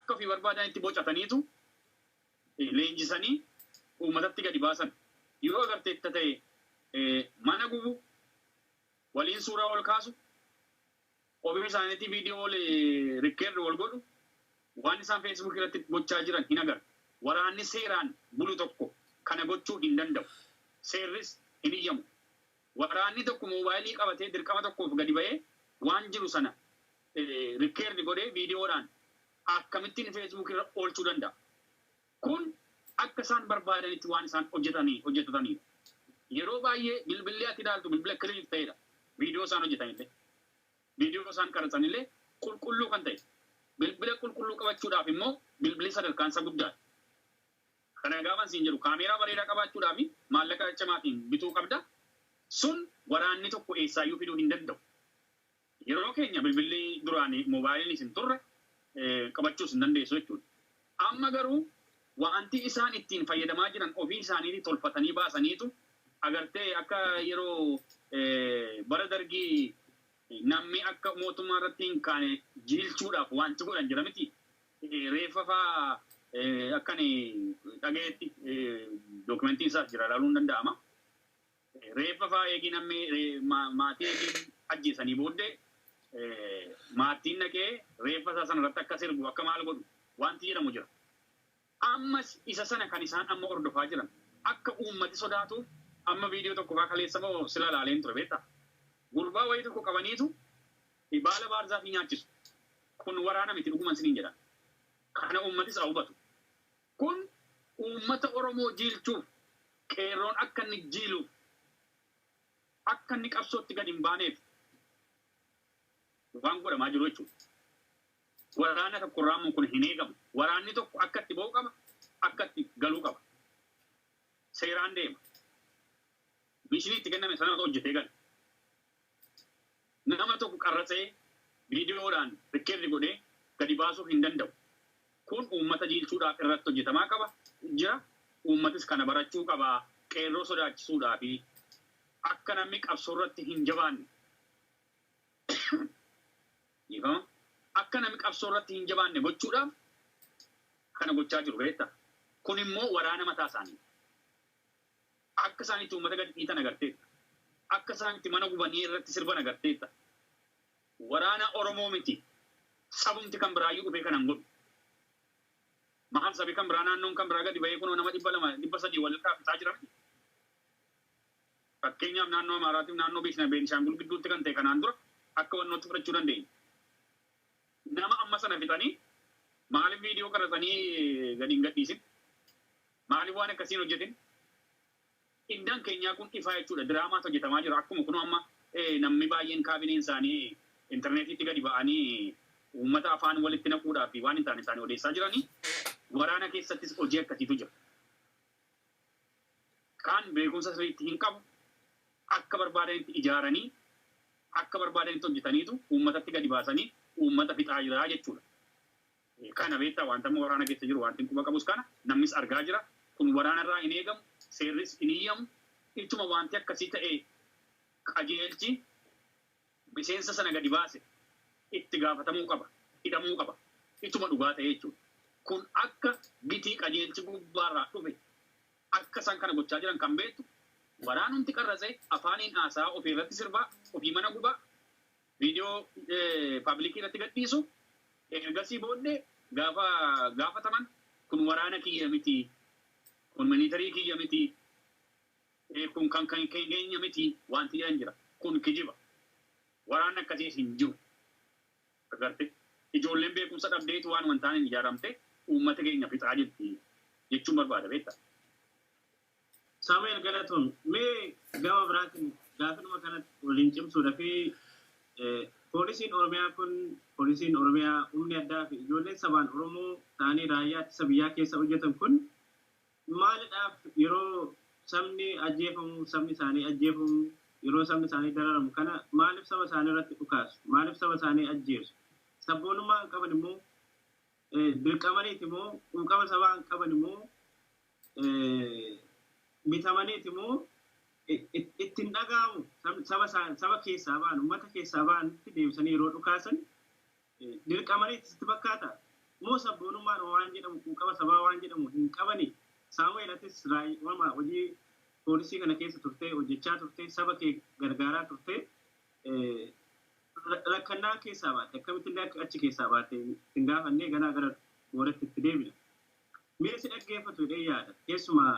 Akka ofii barbaadan itti bocataniitu leenjisanii uummatatti gadi baasan. Yoo agarteetta ta'e mana gubu, waliin suuraa ol kaasu, Ofii isaanitii video wal record wal godhu, waan isaan Facebook irratti gochaa jiran hin agartu. Waraanni seeraan bulu tokko kana gochuu hin danda'u. Seerris hin hiyyamu. Waraanni tokko mobile qabatee dirqama tokkoof gadi ba'ee waan jiru sana record godhee video dhaan akkamittiin Facebook irra oolchuu danda'a? Kun akka isaan barbaadanitti waan isaan hojjetataniif. Yeroo baay'ee bilbilli ati ilaaltu bilbila clean ta'edha. Viidiyoo isaan hojjetanillee, viidiyoo isaan qaraxanillee qulqulluu kan ta'e. Bilbila qulqulluu qabachuudhaaf immoo bilbilli sadarkaan isaa guddaadha. Kana gaafan siin jedhu kaameeraa bareedaa qabaachuudhaaf maallaqa cimaatiin bituu qabda. Sun waraanni tokko eessaayyuu fiduu hin danda'u. Yeroo keenya bilbilli duraan mobaayiliinis hin turre, qabachuus hin dandeessu jechuudha. Amma garuu waanti isaan ittiin fayyadamaa jiran ofii isaaniitii tolfatanii baasaniitu agartee akka yeroo bara dargii namni akka mootummaa irratti hin kaane jiilchuudhaaf waanti godhan jira miti reeffa faa akkan dhagayetti dookumentiin isaas jira ilaaluun danda'ama. Reeffa faa eegii namni maatii eegii ajjeesanii booddee maattiin dhaqee reeffa isaa sana irratti akka sirbu akka maal godhu wanti jedhamu jira. Ammas isa sana kan isaan amma hordofaa jiran akka uummati sodaatuuf amma viidiyoo tokko faa kaleessa moo sila ilaaleen ture beektaa? Gurbaa wayii tokko qabaniitu baala baarzaafii nyaachisu. Kun waraana miti dhuguman siniin jedha. Kana uummatis haa hubatu. Kun uummata Oromoo jiilchuuf, Qeerroon akka inni jiiluuf, akka inni qabsootti gad hin baaneef waan godhamaa jiru jechuu dha. Waraana tokko irraa immoo kun hin eegamu. Waraanni tokko akka itti ba'u qaba, akka itti galuu qaba. Seeraan deema. Mishinii itti kenname sana hojjetee gala. Nama tokko qarratsee viidiyoodhaan rikkerdi godhee gadi baasuu hin danda'u. Kun uummata jiilchuudhaaf irratti hojjetamaa qaba jira. Uummatis kana barachuu qaba. Qeerroo sodaachisuudhaafi. Akka namni qabsoorratti hin jabaanne dhiifama akka namni qabsoorratti hin jabaanne gochuudhaaf kana gochaa jiru beektaa. Kunimmoo waraana mataa isaaniiti. Akka isaan itti uummata gad dhiitan agarteetta. Akka isaan itti mana gubanii irratti sirban agarteetta. Waraana Oromoo miti sabumti kan biraayyuu dhufee kana hin godhu. Maal sabi kan biraa naannoon kan biraa gadi bahee kunoo nama 200, 300 wal irraa fixaa jira miti. Fakkeenyaaf naannoo Amaaraatiif naannoo Beeshna Beenishaangul gidduutti kan ta'e kanaan dura akka wannootti fudhachuu dandeenya. Nama amma sana fixanii maaliif viidiyoo qaratsanii gadi hin gadhiisin? Maalif waan akkasii hin hojjetin? Indaan keenyaa kun ifaa jechuudha. Diraamaatu hojjetamaa jira. Akkuma kunoo amma namni baay'een kaabineen isaanii interneetiitti gadi ba'anii uummata afaan walitti naquudhaa fi waan hin taane isaanii odeessaa jiranii, waraana keessattis hojii akkasiitu jira. Kaan beekumsa sirriitti hin qabu. Akka barbaadanitti ijaaranii, akka barbaadanitti hojjetaniitu uummatatti gadi baasanii uummata fixaa jira jechuudha. Kana beektaa? Wanta amma waraana keessa jiru wantin quba qabus kana, namnis argaa jira. Kun waraana irraa hin eegamu, seerris hin hiyyamu. Ituma wanti akkasii ta'e qajeelchi miseensa sana gadi baase itti gaafatamuu qaba, hidhamuu qaba. Ituma dhugaa ta'ee jechuudha. Kun akka gitii qajeelchi gubbaa irraa dhufe akka isaan kana gochaa jiran kan beektu waraanumti qarratsee afaaniin haasa'aa ofii irratti sirbaa, ofii mana gubaa, viidiyoo paablikii irratti gadhiisu. Ergasii booddee gaafa gaafataman kun waraana kiyya miti, kun miliitarii kiyya miti, kun kan kan keenya miti wanti jedhan jira. Kun kijiba. Waraanni akkasii hin jiru. Agartee? Ijoolleen beekumsa dhabdeetu waanuma hin taaneen ijaaramtee uummata keenya fixaa jirti jechuun barbaada beektaa? Saamu'eel galatoomi. Mee gama biraatiin gaafidhuma kanatti waliin cimsuudha fi poolisiin Oromiyaa kun poolisiin Oromiyaa humni addaa fi ijoolleen sabaan Oromoo ta'anii raayyaa ittisa biyyaa keessa hojjetan kun maalidhaaf yeroo sabni ajjeefamu sabni isaanii ajjeefamu yeroo sabni isaanii dararamu kana maaliif saba isaanii irratti dhukaasu maaliif saba isaanii ajjeesu sabboonummaa hin qaban immoo dirqamaniiti immoo quuqama sabaa hin qaban immoo mitamaniiti moo itti hin dhaga'amu saba saba keessaa ba'an uummata keessaa ba'anitti deebisanii yeroo dhukaasan dirqamanii itti fakkaata moo sabboonummaan waan jedhamu quuqama sabaa waan jedhamu hin qabani saamu'eel atis raayyaa hojii poolisii kana keessa turtee hojjechaa turtee saba kee gargaaraa turtee rakkannaan keessaa baate akkamitti illee achi keessaa baate hin gaafannee ganaa gara booratti itti deebina. Mee si dhaggeeffatu jedheen yaada. Keessumaa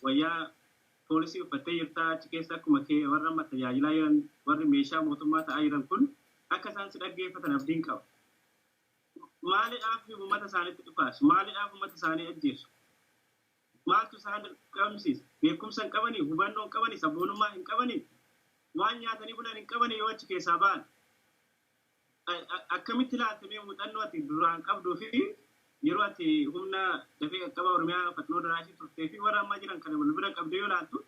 wayyaa poolisii uffattee jirta, achi keessa akkuma kee warra amma tajaajilaa jiran, warri meeshaa mootummaa ta'aa jiran kun akka isaan si dhaggeeffatan abdiin qaba. Maalidhaaf uummata isaaniitti dhukaasu? Maalidhaaf uummata isaanii ajjeesu? Maaltu isaan dirqamsiisa? Beekumsa hin qabanii? Hubannoo hin qabanii? Sabboonummaa hin qabanii? Waan nyaatanii bulan hin qabanii yoo achi keessaa ba'an? Akkamitti ilaalta mee muuxannoo ati duraan qabduu fi yeroo ati humna dafee qaqqabaa Oromiyaa Faxinoo Daraashii turtee fi warra ammaa jiran kana wal bira qabdee yoo ilaaltu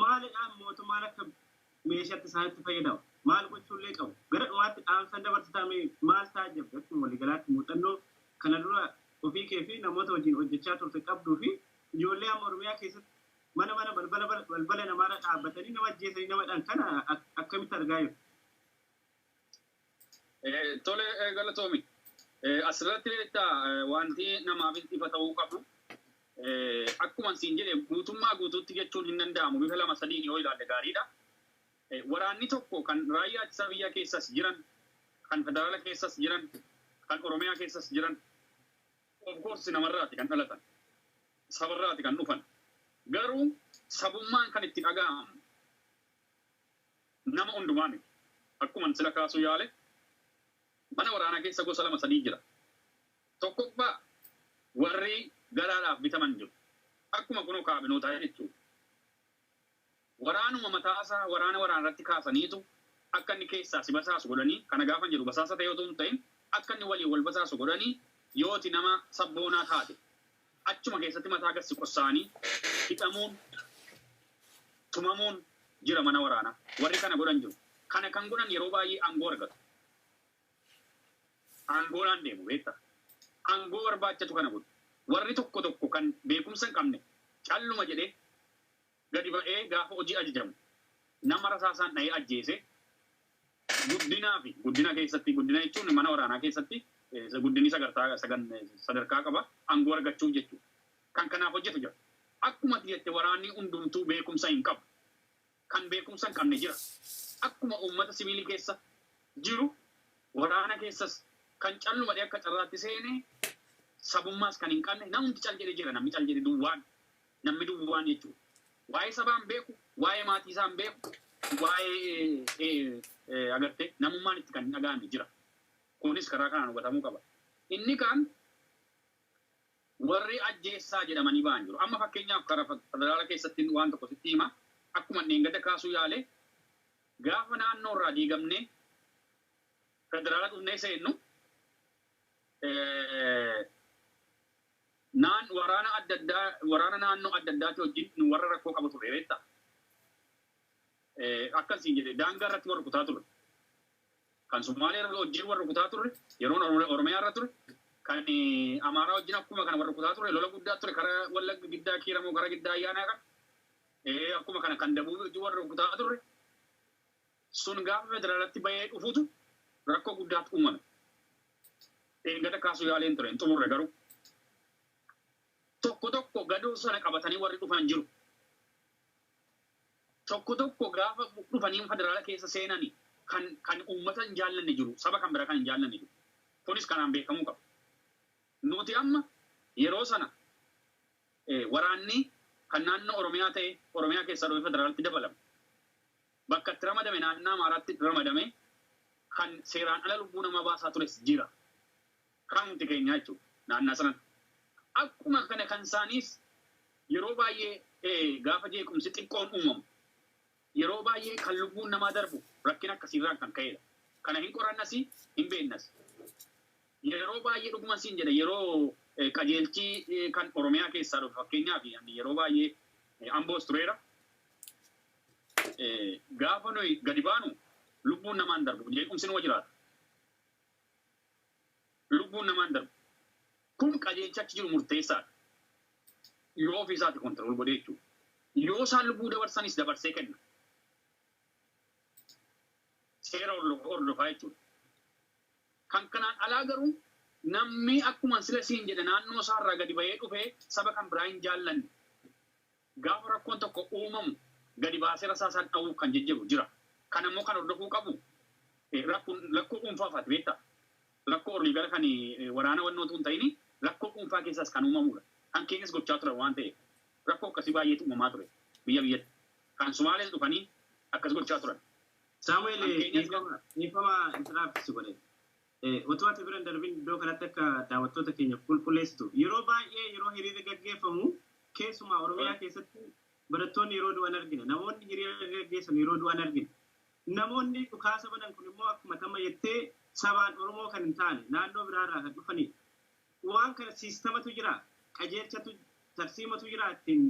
maalidhaan mootummaan akka meeshaatti isaanitti fayyadamu? Maal gochuullee qabu? Gara dhumaatti dhaamsan dabarsitaa mee maal taajjabde akkuma waliigalaatti muuxannoo kana dura ofii kee fi namoota wajjin hojjechaa turte qabduu fi ijoollee amma Oromiyaa keessatti mana mana balbala balbala namaarra dhaabbatanii nama ajjeesanii nama dhan kana akkamitti argaa jirtu? Eh, Tole eh, galatoomi. Eh, Asirratti beektaa eh, wanti namaaf ifa ta'uu qabu eh, akkuma siin jedhe guutummaa guutuutti jechuun hin danda'amu bifa lama sadiin yoo ilaalle gaariidha. Eh, Waraanni tokko kan raayyaa ittisa biyyaa keessas jiran, kan federaala keessas jiran, kan oromiyaa keessas jiran of course namarraati kan dhalatan, sabarraati kan dhufan. Garuu sabummaan kan itti dhaga'amu nama hundumaa miti. Akkuman sila kaasuu yaale mana waraanaa keessa gosa lama sadii jira. Tokkoffaa warri galaadhaaf bitaman jiru. Akkuma kunoo kaabinootaa jechuudha. Waraanuma mataasaa waraana waraanarratti kaasaniitu akka inni keessaa si basaasu godhanii kana gaafan jedhu basaasa ta'ee otoo hin ta'in akka inni waliin wal basaasu godhanii yooti nama sabboonaa taate Achuma keessatti mataa gad si qossaanii hidhamuun, tumamuun jira mana waraanaa. Warri kana godhan jiru. Kana kan godhan yeroo baay'ee aangoo argatu. Aangoodhaan deemu beektaa. Aangoo barbaachatu kana godhu. Warri tokko tokko kan beekumsa hin qabne calluma jedhee gadi ba'ee gaafa hojii ajajamu nama rasaasaan dhahee ajjeese guddinaa fi guddina keessatti guddina jechuun mana waraanaa keessatti guddinni sagartaa sadarkaa qaba aangoo argachuuf jechuudha. Kan kanaaf hojjetu jira. Akkuma ati jette waraanni hundumtuu beekumsa hin qabu. Kan beekumsa hin qabne jira. Akkuma uummata siviilii keessa jiru waraana keessas kan callumadhee akka carraatti seene sabummaas kan hin qabne namumti cal jedhe jira namni cal jedhe duwwaan Namni duwwaan jechuun waa'ee sabaa hin beeku, waa'ee maatii isaa hin beeku, waa'ee agartee namummaan itti kan hin dhaga'amne jira. Kunis karaa kanaan hubatamuu qaba. Inni kaan warri ajjeessaa jedhamanii ba'an jiru. Amma fakkeenyaaf karaa federaala keessatti waan tokko sitti hima. Akkuma dheengada kaasuu yaale gaafa naannoo irraa diigamnee federaala dhufnee seennu Naan waraana adda addaa waraana naannoo adda addaati wajjin nu warra rakkoo qabu ture beektaa? Akkan siin jedhe daangaa irratti wal rukutaa turre. Kan Sumaalee wajjin wal rukutaa turre yeroon Oromiyaa irra ture. Kan Amaaraa wajjin akkuma kana wal rukutaa turre lola guddaa ture kara Wallagga giddaa Kiiramoo kara giddaa Ayyaanaa kan akkuma kana kan Dabuubii wajjin wal rukutaa turre. Sun gaafa federaalatti bahee dhufutu rakkoo guddaatu uumame. Dheengadda kaasuu yaaleen ture hin xumurre garuu. Tokko tokko gadoo sana qabatanii warri dhufan jiru. Tokko tokko gaafa dhufanii federaala keessa seenani kan kan uummata hin jaallanne jiru, saba kan biraa kan hin jaallanne jiru. Kunis kanaan beekamuu qaba. Nuti amma yeroo sana eh, waraanni kan naannoo Oromiyaa ta'e Oromiyaa keessaa dhufee federaalatti dabalame. Bakka itti ramadame naannaa Amaaraatti ramadame kan seeraan ala lubbuu namaa baasaa tures jira. Kanumti keenyaa jechuudha naannaa sanan. Akkuma kana kan isaaniis yeroo baay'ee gaafa jeequmsi xiqqoon uumamu yeroo baay'ee kan lubbuun namaa darbu rakkina akkasiirraan kan ka'edha. Kana hin qorannas hin beeknas. Yeroo baay'ee dhuguman siin jedha yeroo qajeelchi kan Oromiyaa keessaa dhufe fakkeenyaaf yeroo baay'ee Amboos tureera. Gaafa nuyi gadi baanu lubbuun namaa hin darbu. Jeequmsi numa jiraata. Lubbuun namaa hin darbu. Kun qajeelcha achi jiru murteessaadha. Yoo ofii isaati kontirool godhee jechuudha. Yoo isaan lubbuu dabarsanis dabarsee kenna. Seera hordofaa jechuudha. Kan kanaan alaa garuu namni akkuma sila siin jedhe naannoo isaarraa gadi bahee dhufee saba kan biraa hin jaallanne. Gaafa rakkoon tokko uumamu gadi baasee rasaasaan dhawuuf kan jijjiru jira. Kana immoo kan hordofuu qabu rakkun lakkoo dhuunfaafaati beektaa. Lakkoo olii gara kan waraana wannoo utuu hin ta'ini lakkoo dhuunfaa keessaas kan uumamuudha. Kan keenyas gochaa turan waan ta'eef. Rakkoo akkasii baay'eetu uumamaa ture biyya biyyatti. Kan Sumaalees dhufanii akkas gochaa turan. Saamu'eel Kan keenyas gara dhiifama dhiifama interrupt si godhe. Utuu ati bira hin darbin iddoo kanatti akka daawwattoota keenyaaf qulqulleessitu. Yeroo baay'ee yeroo hiriirri gaggeeffamu keessumaa Oromiyaa keessatti barattoonni yeroo du'an argina. Namoonni hiriira gaggeessan yeroo du'an argina. Namoonni dhukaasa banan kun immoo akkuma ati amma jettee sabaan Oromoo kan hin taane naannoo biraa irraa kan dhufanidha. Waan kana siistamatu jira, qajeelchatu, tarsiimotu jira ittiin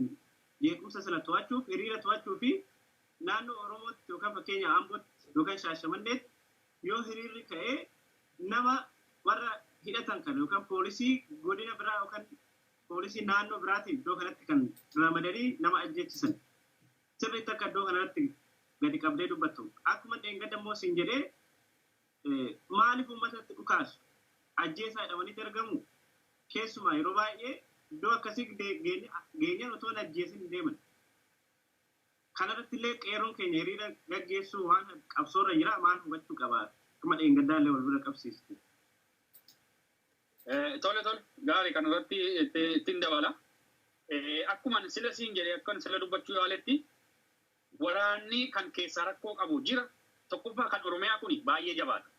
jeequmsa sana to'achuuf, hiriira to'achuu fi naannoo Oromootti yookaan fakkeenya Ambootti yookaan Shaashamanneetti Yoo hiriirri ka'e nama warra hidhatan kana yookaan poolisii godina biraa yookaan poolisii naannoo biraatiin iddoo kanatti kan ramadanii nama ajjeechisan. Sirriitti akka iddoo kanarratti gadi qabdee dubbattu. Akkuma dheengadda immoo siin jedhee maaliif uummatatti dhukaasu? Ajjeesaa jedhamanii dargamu. Keessumaa yeroo baay'ee iddoo akkasii geenyaan otoo hin ajjeesin hin deeman. Kanarratti illee qeerroon keenya hiriira gaggeessuu waan hafe qabsoorra jira maal hubachuu qaba? Akkuma dheengaddaa illee wal bira qabsiiste. Tole tole gaarii kanarratti ittiin dabala. Akkuma sila siin jedhe akkan sila dubbachuu yaaletti waraanni kan keessaa rakkoo qabu jira. Tokkoffaa kan Oromiyaa kun baay'ee jabaata.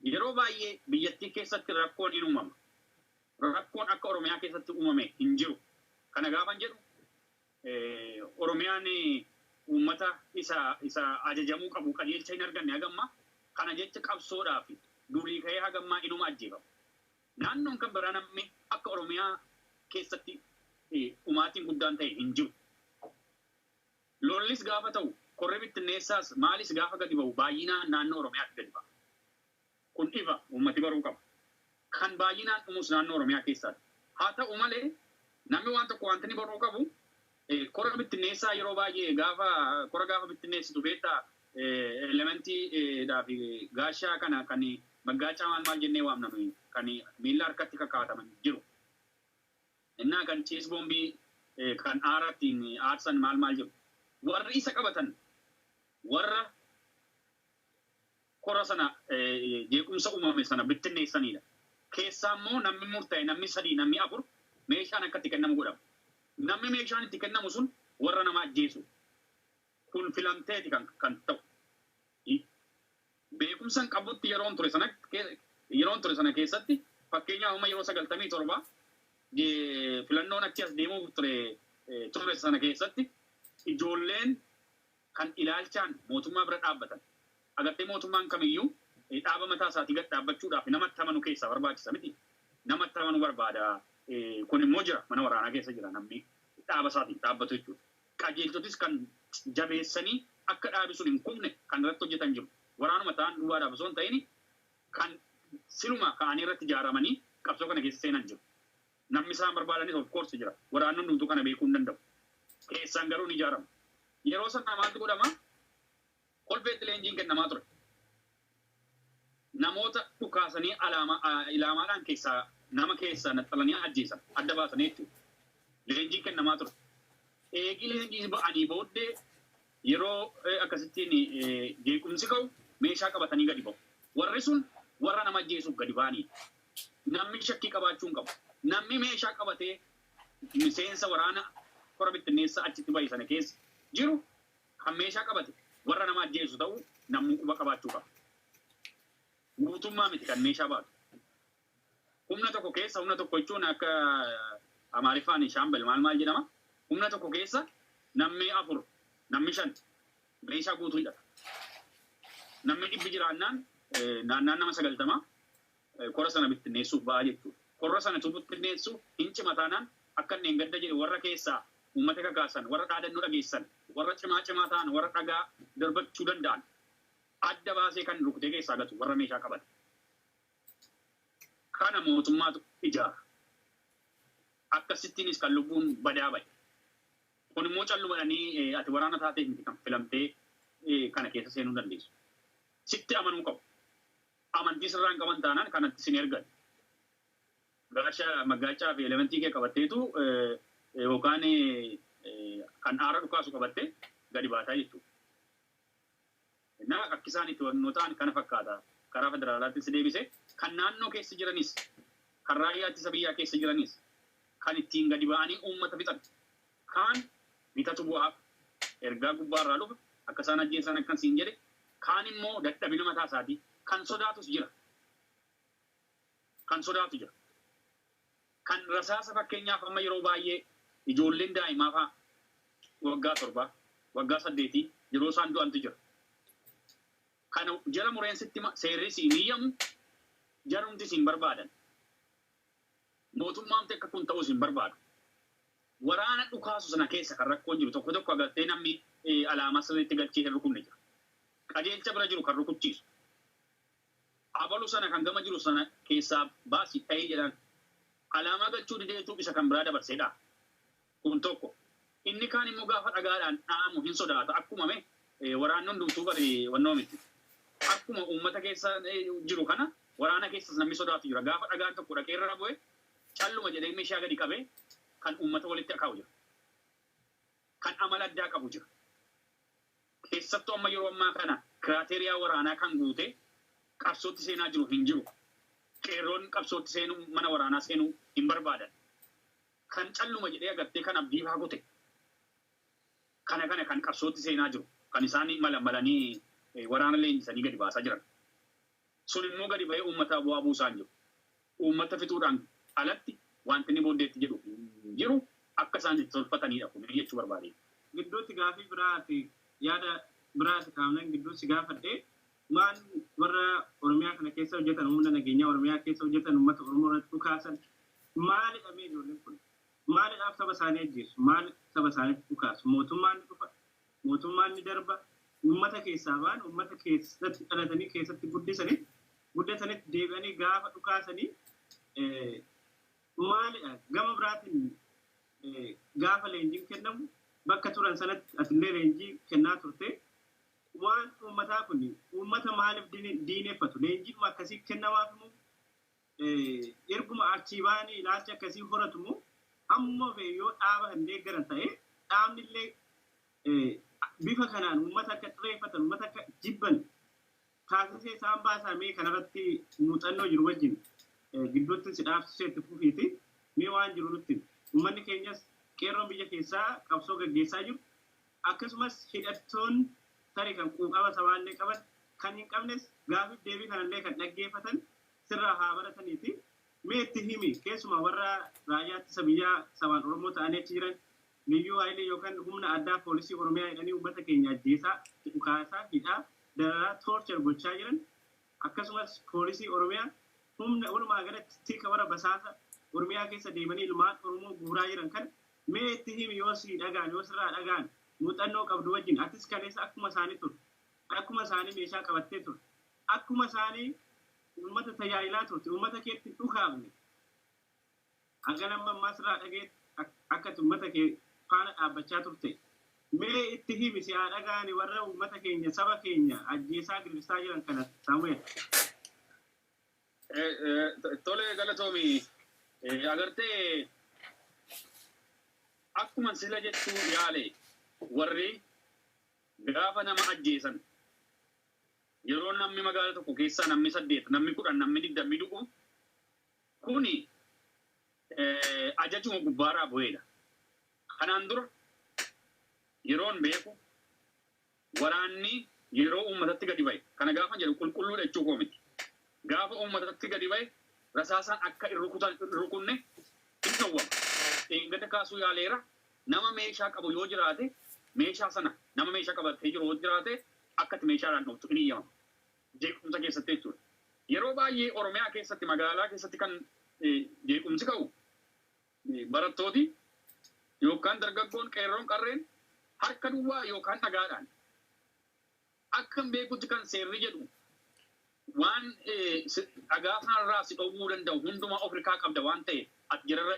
Yeroo baay'ee biyyattii keessatti rakkoon hin uumama. Rakkoon akka Oromiyaa keessatti uumame hin jiru. Kana gaafan jedhu Oromiyaan uummata isa isa ajajamuu qabu qajeelcha hin arganne haga ammaa. Kana jecha qabsoodhaaf duulii ka'ee haga ammaa inuma ajjeefama. Naannoon kan biraa namni akka Oromiyaa keessatti dhumaatiin guddaan ta'e hin jiru. Lollis gaafa ta'u, korri bittinneessaas maalis gaafa gadi ba'u baay'inaan naannoo Oromiyaatti gadi ba'a. Kun ifa, uummati baruu qaba. Kan baay'inaan dhumus naannoo Oromiyaa keessaati. Haa ta'u malee, namni waan tokko wanti inni baruu qabu, kora bittinneessaa yeroo baay'ee gaafa kora gaafa bittinneessitu beektaa elementii dhaa fi gaashaa kana kan maggaacaa maal maal jennee waamna nuyi kan miilla harkatti kakaataman jiru. Innaa kan ciis boombii kan aara ittiin aarsan maal maal jiru. Warri isa qabatan warra kora sana jeequmsa uumame sana bittinneessaniidha. Keessaa immoo namni murta'e namni sadii namni afur meeshaan akka itti kennamu godhama. Namni meeshaan itti kennamu sun warra nama ajjeesu. Kun filamteeti kan kan ta'u. Beekumsa hin qabutti yeroon ture sana yeroon ture sana keessatti fakkeenyaaf amma yeroo sagaltamii torba filannoon achi as deemuuf ture ture sana keessatti ijoolleen kan ilaalchaan mootummaa bira dhaabbatan. Agartee mootummaan kamiyyuu dhaaba mataa isaatii gad dhaabbachuudhaaf nama itti amanu keessaa barbaachisa mitii? Nama itti amanu barbaada. Kun immoo jira mana waraanaa keessa jira namni dhaaba isaatiin dhaabbatu jechuudha. Qajeeltotis kan jabeessanii akka dhaabi sun hin kufne kan irratti hojjetan jiru. Waraanuma ta'an duwwaadhaaf osoo hin ta'in kan siluma ka'anii irratti ijaaramanii qabsoo kana keessa seenan jiru. Namni isaan barbaadanis of course jira. Waraanni hundumtuu kana beekuu hin danda'u. Keessaan garuu ni ijaarama. Yeroo sana maaltu godhama? Kolfeetti leenjiin kennamaa ture. Namoota dhukaasanii alaamaa a- ilaamaadhaan keessaa nama keessaa naxxalanii ajjeesan adda baasanii jechuudha. Leenjiin kennamaa ture. Eegii leenjii ba'anii booddee Yeroo akkasittiin jeequmsi ka'u meeshaa qabatanii gadi ba'u. Warri sun warra nama ajjeesuuf gadi ba'aniidha. Namni shakkii qabaachuu hin qabu. Namni meeshaa qabatee miseensa waraana kora bittinneessaa achitti ba'e sana keessa jiru kan meeshaa qabate warra nama ajjeesu ta'uu namuu quba qabaachuu qaba. Guutummaa miti kan meeshaa baatu. Humna tokko keessa, humna tokko jechuun akka Amaariffaan shaambal maal maal jedhama. Humna tokko keessa namni afur, namni shan meeshaa guutuu hidhata. Namni dhibbi jiraannaan naannaan nama sagaltama kora sana bittinneessuuf ba'a jechuudha. Korra sana tu bittinneessu hin cima taanaan akka inni gadda jedhe warra keessaa uummata kakaasan, warra dhaadannoo dhageessisan, warra cimaa cimaa ta'an, warra dhagaa darbachuu danda'an adda baasee kan rukutee keessaa gatu warra meeshaa qaban. Kana mootummaatu ijaara. Akkasittiinis kan lubbuun badaa ba'e. Kun immoo calluma jedhanii ati waraana taateef miti kan filamtee kana keessa seenuu dandeessu. Sitti amanuu qabu. Amantii sirraa hin qaban taanaan kan atti sin ergan. Gaasha maggaachaa fi elementii kee qabatteetu yookaan kan aara dhukaasu qabattee gadi baataa jechuudha. Nama rakkisaan itti hubannoo ta'an kana fakkaata. Karaa federaalaattis deebisee, kan naannoo keessa jiranis, kan raayyaa ittisa biyyaa keessa jiranis, kan ittiin gadi ba'anii uummata fixan kaan bitatu bu'aaf, ergaa gubbaa irraa dhufa, akka isaan ajjeesan akkan siin jedhe, kaan immoo dadhabina mataa isaatii, kan sodaatus jira. Kan sodaatu jira. Kan rasaasa fakkeenyaaf amma yeroo baay'ee ijoolleen daa'imaa fa'aa waggaa torbaa, waggaa saddeetii yeroo isaan du'antu jira. Kana jara mureen sitti hima, seerris hin hiyyamu, jarumtis hin barbaadan. Mootummaamti akka kun ta'us hin barbaadu. Waraana dhukaasu sana keessa kan rakkoon jiru tokko tokko agartee namni alaamaa sirriitti galchee hin rukunne jira. Qajeelcha bira jiru kan rukuchiisu. Abalu sana kan gama jiru sana keessaa baasi dhahi jedhaan. Alaamaa galchuu dideetu isa kan biraa dabarsee dhaha. Kun tokko. Inni kaan immoo gaafa dhagaadhaan dha'amu hin sodaata. Akkuma me waraanni hundumtuu bari wannoo miti. Akkuma uummata keessa jiru kana waraana keessas namni sodaatu jira. Gaafa dhagaan tokko dhaqee irra bu'e calluma jedhee meeshaa gadi qabee kan uummata walitti akaa'u jira. Kan amala addaa qabu jira. Keessattuu amma yeroo ammaa kana kiraateeriyaa waraanaa kan guute qabsootti seenaa jiru hin jiru. Qeerroon qabsootti seenuu, mana waraanaa seenuu hin barbaadan. Kan calluma jedhee agartee kan abdii faa kute kana kana kan qabsootti seenaa jiru. Kan isaan malan malanii waraana leenjisanii gadi baasaa jiran. Sun immoo gadi ba'ee uummataa bu'aa buusaa hin jiru. Uummata fixuudhaan alatti waanti inni booddeetti jedhu hin jiru. Akka isaan itti tolfataniidha kuni jechuu barbaadeen. Gidduutti gaafii biraa ati yaada biraa isa kaamleen gidduu si gaafadhe waan warra Oromiyaa kana keessa hojjetan humna nageenyaa Oromiyaa keessa hojjetan uummata Oromoo irratti dhukaasan maalidha mee ijoolleen kun maalidhaaf saba isaanii ajjeessu maal saba isaanitti dhukaasu mootummaan ni dhufa Mootummaan ni darba. Uummata keessaa ba'an, uummata keessatti dhalatanii, keessatti guddisanitti, guddatanitti deebi'anii gaafa dhukaasanii maalidha? Gama biraatiin gaafa leenjiin kennamu bakka turan sanatti atillee leenjii kennaa turte. Waan uummataa kun uummata maaliif diineffatu? Leenjiidhuma akkasii kennamaaf immoo Erguma achii ba'anii ilaalcha akkasii horatu moo amma fe'e yoo dhaaba kan deeggaran ta'e dhaabni illee bifa kanaan uummata akka xireeffatan uummata akka jibban taasisee isaan baasaa mee kanarratti muuxannoo jiru wajjin gidduutti si dhaabsisee itti fufiiti mee waan jiru nutti uummanni keenyas qeerroon biyya keessaa qabsoo gaggeessaa jiru akkasumas hidhattoon tarii kan quuqama sabaallee qaban kan hin qabnes gaafiif deebii kanallee kan dhaggeeffatan sirraa haa barataniiti. Mee itti himi keessumaa warra raayyaa ittisa biyyaa sabaan Oromoo ta'anii achi jiran liyyuu hayilee yookaan humna addaa poolisii Oromiyaa jedhanii uummata keenya ajjeesaa, dhukaasaa, hidhaa, dararaa, torture gochaa jiran akkasumas poolisii Oromiyaa humna walumaa galatti tika warra basaasa Oromiyaa keessa deemanii ilmaan Oromoo guuraa jiran kana mee itti himi yoo sii dhagaan yoo sirraa dhagaan muuxannoo qabdu wajjin atis kaleessa akkuma isaanii turte akkuma isaanii meeshaa qabattee turte Akkuma isaanii uummata tajaajilaa turte, uummata keetti hin dhukaafne. Hangan amma ammaa sirraa dhageetti akka ati uummata kee faana dhaabbachaa turte. Mee itti himi si haa dhaga'ani warra uummata keenya, saba keenya ajjeesaa gidirsaa jiran kana Saamu'eel. Tole galatoomi. Agartee akkuma sila jechuu yaale warri gaafa nama ajjeesan Yeroo nammi magaala tokko keessaa nammi 8, nammi 10, nammi 20 du'u kuni ajajuma gubbaaraa bu'eedha. Kanaan dura yeroon beeku waraanni yeroo uummatatti gadi ba'e, kana gaafan jedhu qulqulluudha jechuu koo miti. Gaafa uummatatti gadi ba'e rasaasaan akka hin rukutan hin rukunne hin dhowwama. Dheengadda kaasuu yaaleera nama meeshaa qabu yoo jiraate meeshaa sana nama meeshaa qabatee jiru yoo jiraate akka itti meeshaadhaan dhooftu hin eyyamamu. Jeequmsa keessatti jechuudha. Yeroo baay'ee Oromiyaa keessatti magaalaa keessatti kan jeequmsi ka'u barattooti yookaan dargaggoon qeerroon qarreen harka duwwaa yookaan dhagaadhaan akkan beekutti kan seerri jedhu Waan dhagaa kanarraa si dhowwuu danda'u hundumaa of irkaa qabda waan ta'eef, ati jararra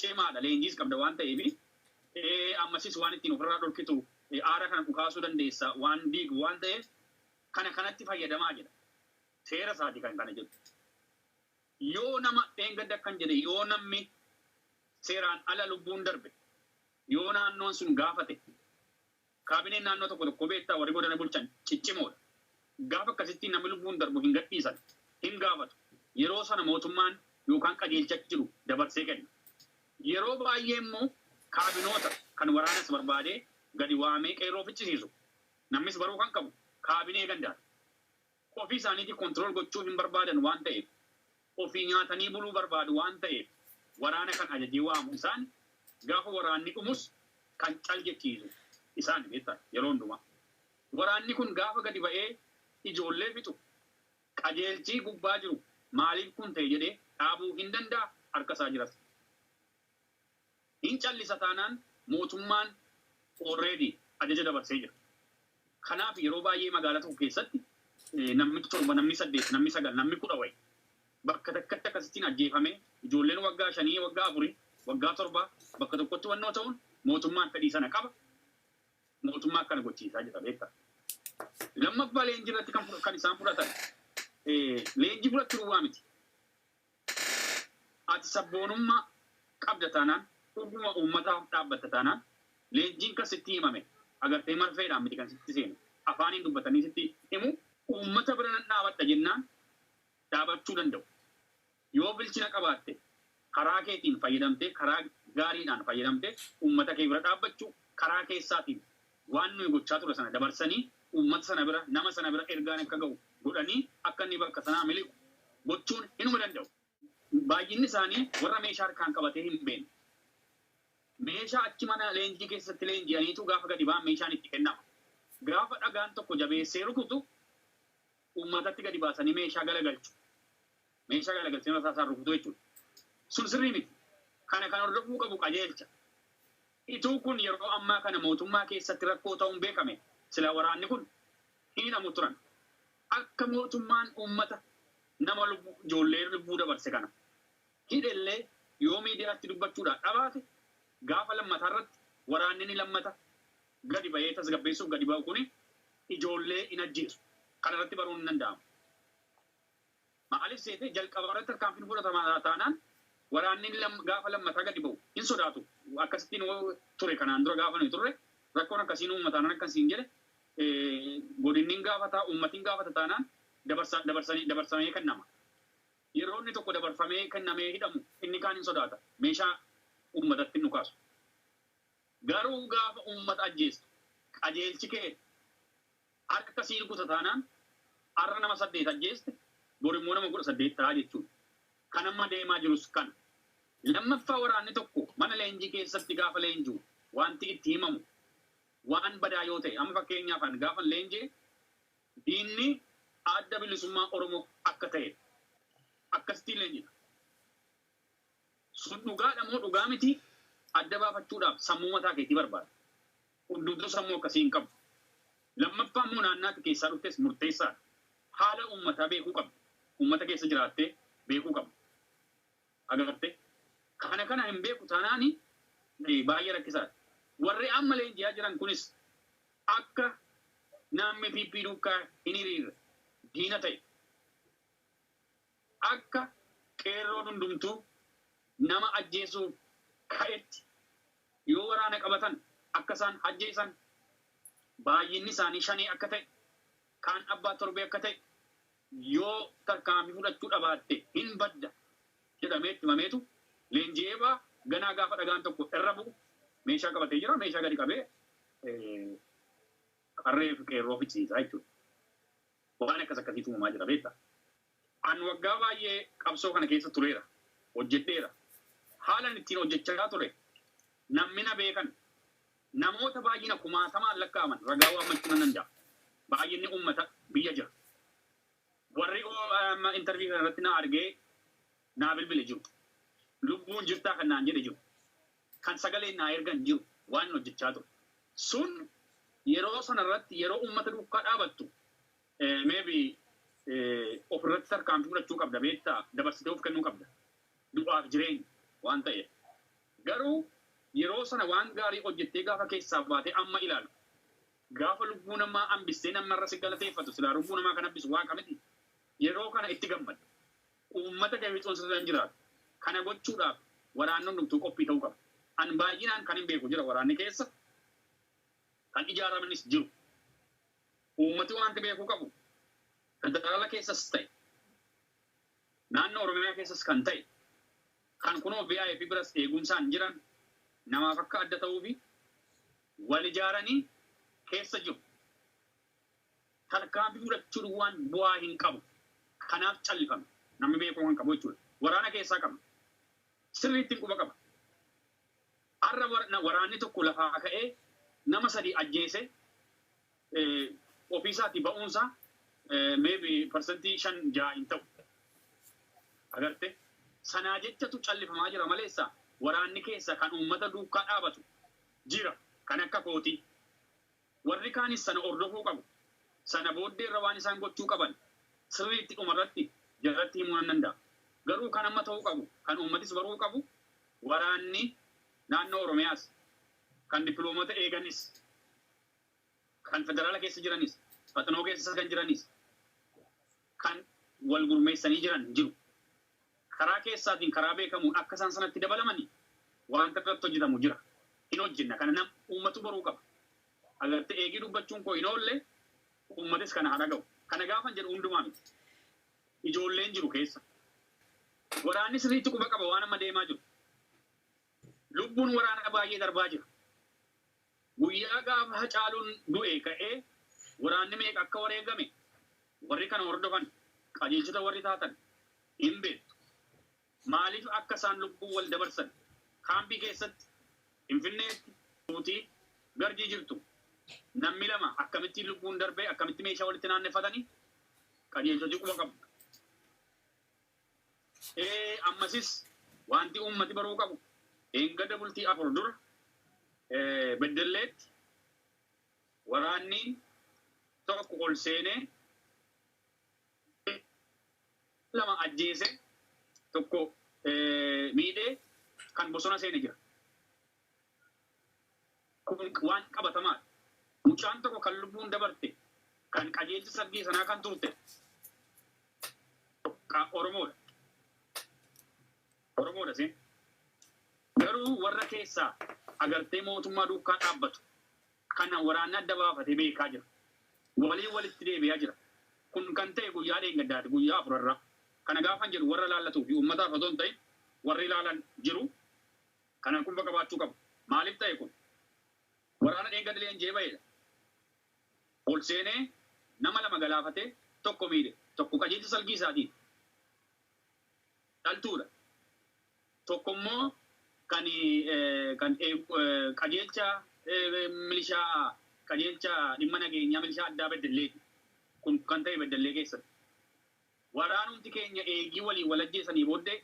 cimaadha, leenjiis qabda waan ta'eef, ammasis waan ittiin ofirraa dhorkitu aara kana dhukaasuu dandeessa waan diigu waan ta'eef kana kanatti fayyadamaa jedha. Seera isaati kan kana jedhu. Yoo nama dheengadda akkan jedhe yoo namni seeraan ala lubbuun darbe yoo naannoon sun gaafate Kaabineen naannoo tokko tokkoo beektaa warri godana bulchan ciccimoodha. Gaafa akkasittii namni lubbuun darbu hin gadhiisan, hin gaafatu. Yeroo sana mootummaan yookaan qajeelcha jiru dabarsee kenna. Yeroo baay'ee immoo kaabinoota kan waraanas barbaadee gadi waamee qeerroo ficcisiisu. Namnis baruu kan qabu kaabinee gandaati. Ofii isaaniitii control gochuu hin barbaadan waan ta'eef, ofii nyaatanii buluu barbaadu waan ta'eef waraana kan ajajee waamu isaani, gaafa waraanni dhumus kan cal jechiisu isaani beektaa yeroo hundumaa. Waraanni kun gaafa gadi ba'ee ijoollee fixu qajeelchii gubbaa jiru maaliif kun ta'e jedhee dhaabuu hin danda'a harka isaa jiras. Hin callisa taanaan mootummaan already ajaja dabarsee jira. Kanaaf yeroo baay'ee magaalaa tokko keessatti namni 7, namni 8, namni 9, namni 10 wayi bakka takkatti akkasittiin ajjeefamee ijoolleen waggaa 5, waggaa 4, waggaa 7 bakka tokkotti wannoo ta'uun mootummaan fedhii sana qaba. Mootummaa akkana gochiisaa jira beektaa. Lammaffaa leenjii irratti kan isaan fudhatan leenjii fudhachuu duwwaa miti. Ati sabboonummaa qabda taanaan, dhuguma uummataaf dhaabbatta taanaan, leenjiin kan sitti himame agartee marfeedhaan miti kan sitti seenu, afaaniin dubbatanii sitti himuu. Uummata bira nan dhaabadha jennaan dhaabachuu danda'u. Yoo bilchina qabaatte, karaa keetiin fayyadamtee, karaa gaariidhaan fayyadamtee uummata kee bira dhaabbachuu, karaa keessaatiin Waan nuyi gochaa turre sana dabarsanii uummata sana bira, nama sana bira ergaan akka ga'u godhanii akka inni bakka sanaa miliqu gochuun hinuma danda'u. Baay'inni isaanii warra meeshaa harkaan qabatee hin beekne. Meeshaa achi mana leenjii keessatti leenji'aniitu gaafa gadi ba'an meeshaan itti kennama. Gaafa dhagaan tokko jabeessee rukutu uummatatti gadi baasanii meeshaa galagalchu. Meeshaa galagalchanii rasaasaan rukutuu jechuudha. Sun sirrii miti. Kana kan hordofuu qabu qajeelcha. Ituu kun yeroo ammaa kana mootummaa keessatti rakkoo ta'uun beekame silaa waraanni kun hin hidhamu turan. Akka mootummaan uummata nama lubbuu ijoollee lubbuu dabarse kana hidhellee yoo miidiyaatti dubbachuudhaa dhabaate gaafa lammataa irratti waraanni ni lammata gadi bahee tasgabbeessuuf gadi bahu kuni ijoollee hin ajjeesu. Kana irratti baruun hin danda'amu. Maaliif seete jalqaba irratti tarkaanfiin hin fudhatama taanaan waraanni lam, gaafa lammataa gadi bahu hin sodaatu. Akkasitti nu ture kanaan dura gaafa nuyi turre rakkoon akkasii nu uumama taanaan akkan siin jedhe eh, godinni hin gaafata, uummati hin gaafata taanaan dabarsa, dabarsanii, dabarsamee kennama. Yeroo inni tokko dabarfamee kennamee hidhamu inni kaan hin sodaata. Meeshaa uummatatti hin dhukaasu. Garuu gaafa uummata ajjeestu qajeelchi kee harka sii rukuta taanaan har'a nama 8 ajjeeste borimmoo nama 18 ta'a jechuudha. Kan amma deemaa jirus kana. Lammaffaa waraanni tokko mana leenjii keessatti gaafa leenji'u waanti itti himamu waan badaa yoo ta'e amma fakkeenyaaf an gaafan leenji'e diinni Adda Bilisummaa Oromoo akka ta'edha. Akkasittiin leenjina. Sun dhugaadha moo dhugaa miti adda baafachuudhaaf sammuu mataa keetii barbaada. Hundumtuu sammuu akkasii hin qabu. Lammaffaa immoo naannaa ati keessaa dhuftes murteessaadha. Haala uummataa beekuu qabda. Uummata keessa jiraattee beekuu qabda. Agartee? Kana kana hin beeku taanaan baay'ee rakkisaadha. Warri amma leenji'aa jiran kunis akka namni PP duukaa hin hiriirre diina ta'e. Akka qeerroon hundumtuu nama ajjeesuuf ka'etti yoo waraana qabatan akka isaan ajjeesan, baay'inni isaanii shanee akka ta'e, kaan abbaa torbee akka ta'e, yoo tarkaanfii fudhachuu dhabaatte hin badda jedhamee itti himameetu leenji'ee ba'a. Ganaa gaafa dhagaan tokko irra bu'u meeshaa qabatee jira, meeshaa gadi qabee qarree fi qeerroo ficcisiisa jechuudha. Waan akkas akkasiitu uumamaa jira beekta. An waggaa baay'ee qabsoo kana keessa tureera, hojjedheera. Haalan ittiin hojjechaa ture namni na beekan namoota baay'ina kumaatamaan lakkaa'aman ragaa waammachuu nan danda'a. Baay'inni uummata biyya jira. Warri amma intervii kana irratti na argee naa bilbile jiru. Lubbuun jirtaa kan naan jedhe jiru. kan sagalee naa ergan jiru waanin hojjechaa ture sun yeroo sana irratti yeroo uummata duukaa dhaabattu maybe of irratti tarkaanfii fudhachuu qabda beektaa dabarsitee of kennuu qabda du'aaf jireenya waan ta'eef garuu yeroo sana waan gaarii hojjettee gaafa keessaa baatee amma ilaalu gaafa lubbuu namaa hambistee namni irra si galateeffatu silaa lubbuu namaa kan hambisu waaqa miti yeroo kana itti gammada Uummata Debretsion sirra hin jiraatu. Kana gochuudhaaf waraanni hundumtuu qophii ta'uu qaba. An baay'inaan kanin beeku jira waraanni keessa kan ijaaramanis jiru. Uummati waanti beekuu qabu federaala keessas ta'e naannoo Oromiyaa keessas kan ta'e kan kunoo VIP biras eegumsaan jiran namaaf akka adda ta'uufi wal ijaaranii keessa jiru. Tarkaanfii fudhachuun waan bu'aa hin qabu. Kanaaf callifame. Namni beekuu kan qabu jechuudha. Waraana keessaa qabna. Sirriittin quba qaba. Har'a war waraanni tokko lafaa ka'ee nama sadii ajjeese ofii isaatii ba'uun isaa maybe percentii shan ja'a hin ta'u. Agarte? Sanaa jechatu callifamaa jira maleessa waraanni keessa kan uummata duukkaa dhaabatu jira. Kan akka kootii. Warri kaanis sana hordofuu qabu. Sana booddee irra waan isaan gochuu qaban sirriitti dhuma irratti jaratti himuu nan danda'a. Garuu kan amma ta'uu qabu, kan uummatis baruu qabu, waraanni naannoo Oromiyaas, kan dippiloomata eeganis, kan federaala keessa jiranis, faxinoo keessa kan jiranis, kan wal gurmeessanii jiran jiru. Karaa keessaatiin karaa beekamuun akka isaan sanatti dabalamani waanta irratti hojjetamu jira. Hin hojjenna. Kana nam uummatu baruu qaba. Agartee eegii dubbachuun koo hin oolle uummatis kana haa dhaga'u. Kana gaafan jedhu hundumaa miti. Ijoolleen jiru keessa. Waraanni sirriitti quba qaba waan amma deemaa jiru. Lubbuun waraana baay'ee darbaa jira. Guyyaa gaafa Hacaaluun du'ee ka'ee waraanni meeqa akka wareegame warri kana hordofan, qajeelchota warri taatan hin beektu. Maaliif akka isaan lubbuu wal dabarsan kaampii keessatti Finfinneetti nuti Garjii jirtu nammi lama akkamittiin lubbuun darbee akkamitti meeshaa walitti naanneffatani qajeelchoti quba qabdu. Ee, ammasis wanti uummati baruu qabu eengada bultii afur dura ee, Beddelleetti waraanni tokko ol seenee lama ajjeese tokko ee, miidhee kan bosona seene jira. Kun waan qabatamaa dha. Mucaan tokko kan lubbuun dabarte, kan qajeelcha sabbii sanaa kan turte ka Oromoo dha. Oromoo dha seen. Garuu warra keessaa agartee mootummaa duukkaa dhaabbatu kana waraanni adda baafate beekaa jira. Walii walitti deebi'aa jira. Kun kan ta'e guyyaa dheengaddaati, guyyaa afur irraa. Kana gaafan jedhu warra ilaallatuuf fi uummataaf otoo hin ta'in warri ilaalan jiru. Kana qubba qabaachuu qabu. Maaliif ta'e kun? Waraana dheengadda leenji'ee ba'eedha. Ol seenee nama lama galaafatee tokko miidhe. Tokko qajeelcha salgii isaatiin dhaltuudha. Tokko immoo kan kan qajeelcha milishaa qajeelcha dhimma nageenyaa milishaa addaa Beddelleeti. Kun kan ta'e Beddellee keessatti. Waraanumti keenya eegii waliin wal ajjeesanii booddee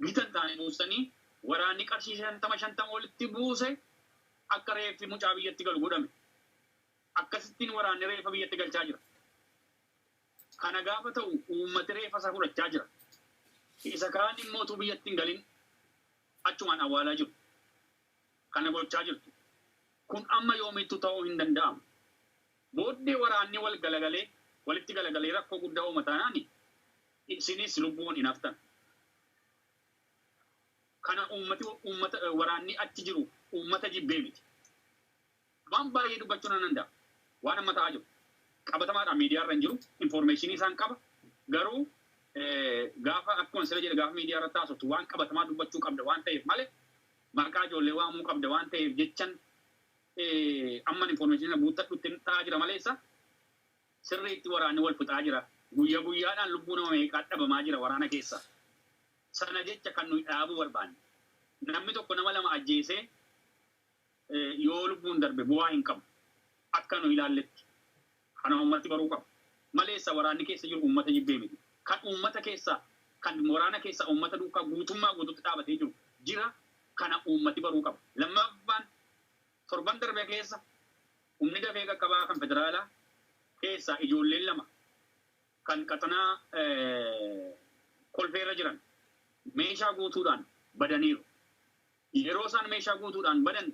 bitan taane buustanii waraanni qarshii shantama shantama walitti buuse akka reeffi mucaa biyyatti galu godhame. Akkasittiin waraanni reeffa biyyatti galchaa jira. Kana gaafa ta'u uummati reeffa isaa fudhachaa jira. Isa kaan immoo utuu biyyatti hin galin achumaan awwaalaa jiru. Kana gochaa jirtu. Kun amma yoomiittuu ta'uu hin danda'amu. Booddee waraanni wal galagalee, walitti galagalee rakkoo guddaa uuma taanaan isinis lubbuun hin haftan. Kana uummati uummata waraanni achi jiru uummata jibbee miti. Waan baay'ee dubbachuu nan danda'a. Waan amma ta'aa jiru qabatamaadhaan miidiyaa irra hin jiru. Infoormeeshinii isaan qaba. Garuu gaafa akkuma sila jedhe gaafa miidiyaa irratti haasoftu waan qabatamaa dubbachuu qabda waan ta'eef malee maqaa ijoollee waamuu qabda waan ta'eef jechan Amman information sana guuttadhuttin ta'aa jira maleessa sirriitti waraanni wal fixaa jira. Guyya guyyaadhaan lubbuu nama meeqaat dhabamaa jira waraana keessa. Sana jecha kan nuyi dhaabuu barbaanne. Namni tokko nama lama ajjeesee yoo lubbuun darbe bu'aa hin qabu. Akka nu ilaalletti. Kana uummati baruu qaba. Maleessa waraanni keessa jiru uummata jibbee miti. Kan uummata keessaa, kan waraana keessaa uummata duukaa guutummaa guutuutti dhaabatee jiru jira. Kana uummati baruu qaba. Lammaffaan, torban darbe keessa humni dafee qaqqabaa kan federaalaa keessaa ijoolleen lama kan qaxanaa Kolfee irra jiran meeshaa guutuudhaan badaniiru. Yeroo isaan meeshaa guutuudhaan badan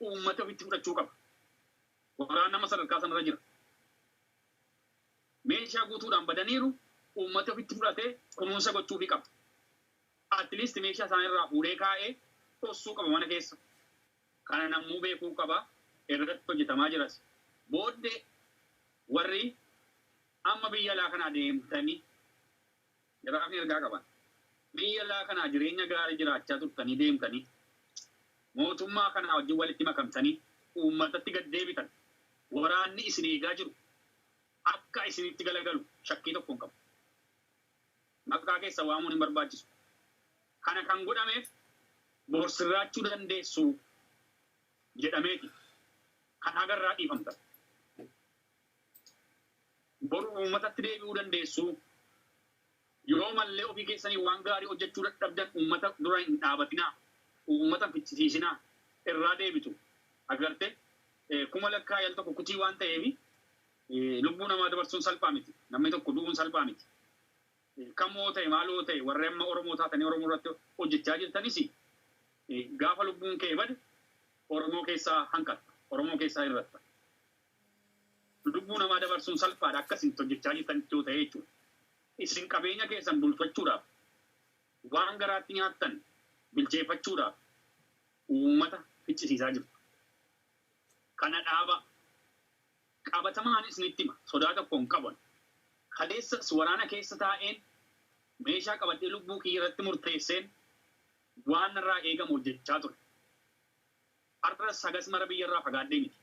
uummati ofitti fudhachuu qaba. Waraanni amma sadarkaa sanarra jira. Meeshaa guutuudhaan badaniiru, uummati ofitti fudhatee kunuunsa gochuufii qaba. At least meeshaa isaanii irraa fuudhee kaa'ee dhossuu qaba mana keessa. Kana namuu beekuu qaba, irratti hojjetamaa jiras. Booddee warri amma biyya alaa kanaa deemtanii Jaraafni ergaa qaban. Biyya laa kanaa jireenya gaarii jiraachaa turtanii deemtanii mootummaa kanaa wajjin walitti makamtanii uummatatti gad deebitan. Waraanni isin eegaa jiru akka isinitti galagalu shakkii tokko hin qabu. Maqaa keessan waamuun hin barbaachisu. Kana kan godhameef bor sirraachuu dandeessu jedhameeti kan haga irraa dhiifamtan. Boru uummatatti deebi'uu dandeessu. Yoo mallee ofii keessaniif waan gaarii hojjachuu dadhabdan uummata dura hin dhaabatinaa. Uummata hin ficcisiisinaa. Irraa deebitu. Agarte? Kuma lakkaa'ii al tokko kutii waan ta'eef lubbuu namaa dabarsuun salphaa miti. Namni tokko du'uun salphaa miti. Kamoo ta'e maaloo ta'e warri amma Oromoo taatanii Oromoo irratti hojjachaa jirtanis gaafa lubbuun kee bade Oromoo keessaa hanqatta. Oromoo keessaa hir'atta. Lubbuu namaa dabarsuun salphaadha akka isin itti hojjechaa jirtanitti yoo ta'e jechuudha. Isin qabeenya keessan bulfachuudhaaf, waan garaatti nyaattan bilcheeffachuudhaaf uummata ficcisiisaa jirtu. Kana dhaabaa. Qabatamaanin isinitti hima, sodaa tokko hin qabanu. Kaleessas waraana keessa taa'een, meeshaa qabadhee lubbuu kiyya irratti murteesseen waan narraa eegamu hojjechaa ture. Har'as hagas mara biyyarraa fagaadhee miti.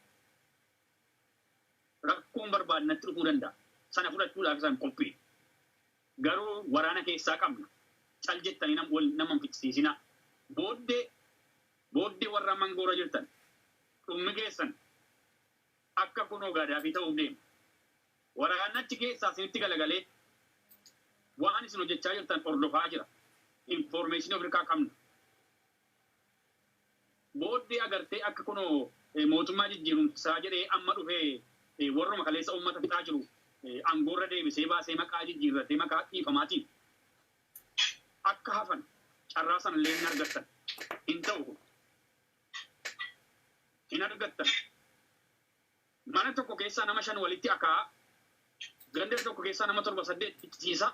Rakkoon barbaade natti dhufuu danda'a. Sana fudhachuudhaaf isan qophii. Garuu waraana keessaa qabna. Cal jettanii nam- wal nama hin ficcisiisinaa. Booddee booddee warra amma angoorra jirtan dhummi keessan akka kunoo Gaadaafii ta'uuf deema. Waraanni achi keessaa isinitti galagalee waan isin hojjechaa jirtan hordofaa jira. Infoormeeshinii of harkaa qabna. booddee agartee akka kunoo mootummaa jijjiirumsaa jedhee amma dhufee warruma kaleessa uummata fixaa jiru angoorra deebisee baasee maqaa jijjiirratee maqaa dhiifamaatiin akka hafan carraa sanallee hin argattan hin ta'u kun hin argattan. Mana tokko keessaa nama shan walitti akaa'a, ganda tokko keessaa nama torba saddeet fichisiisaa,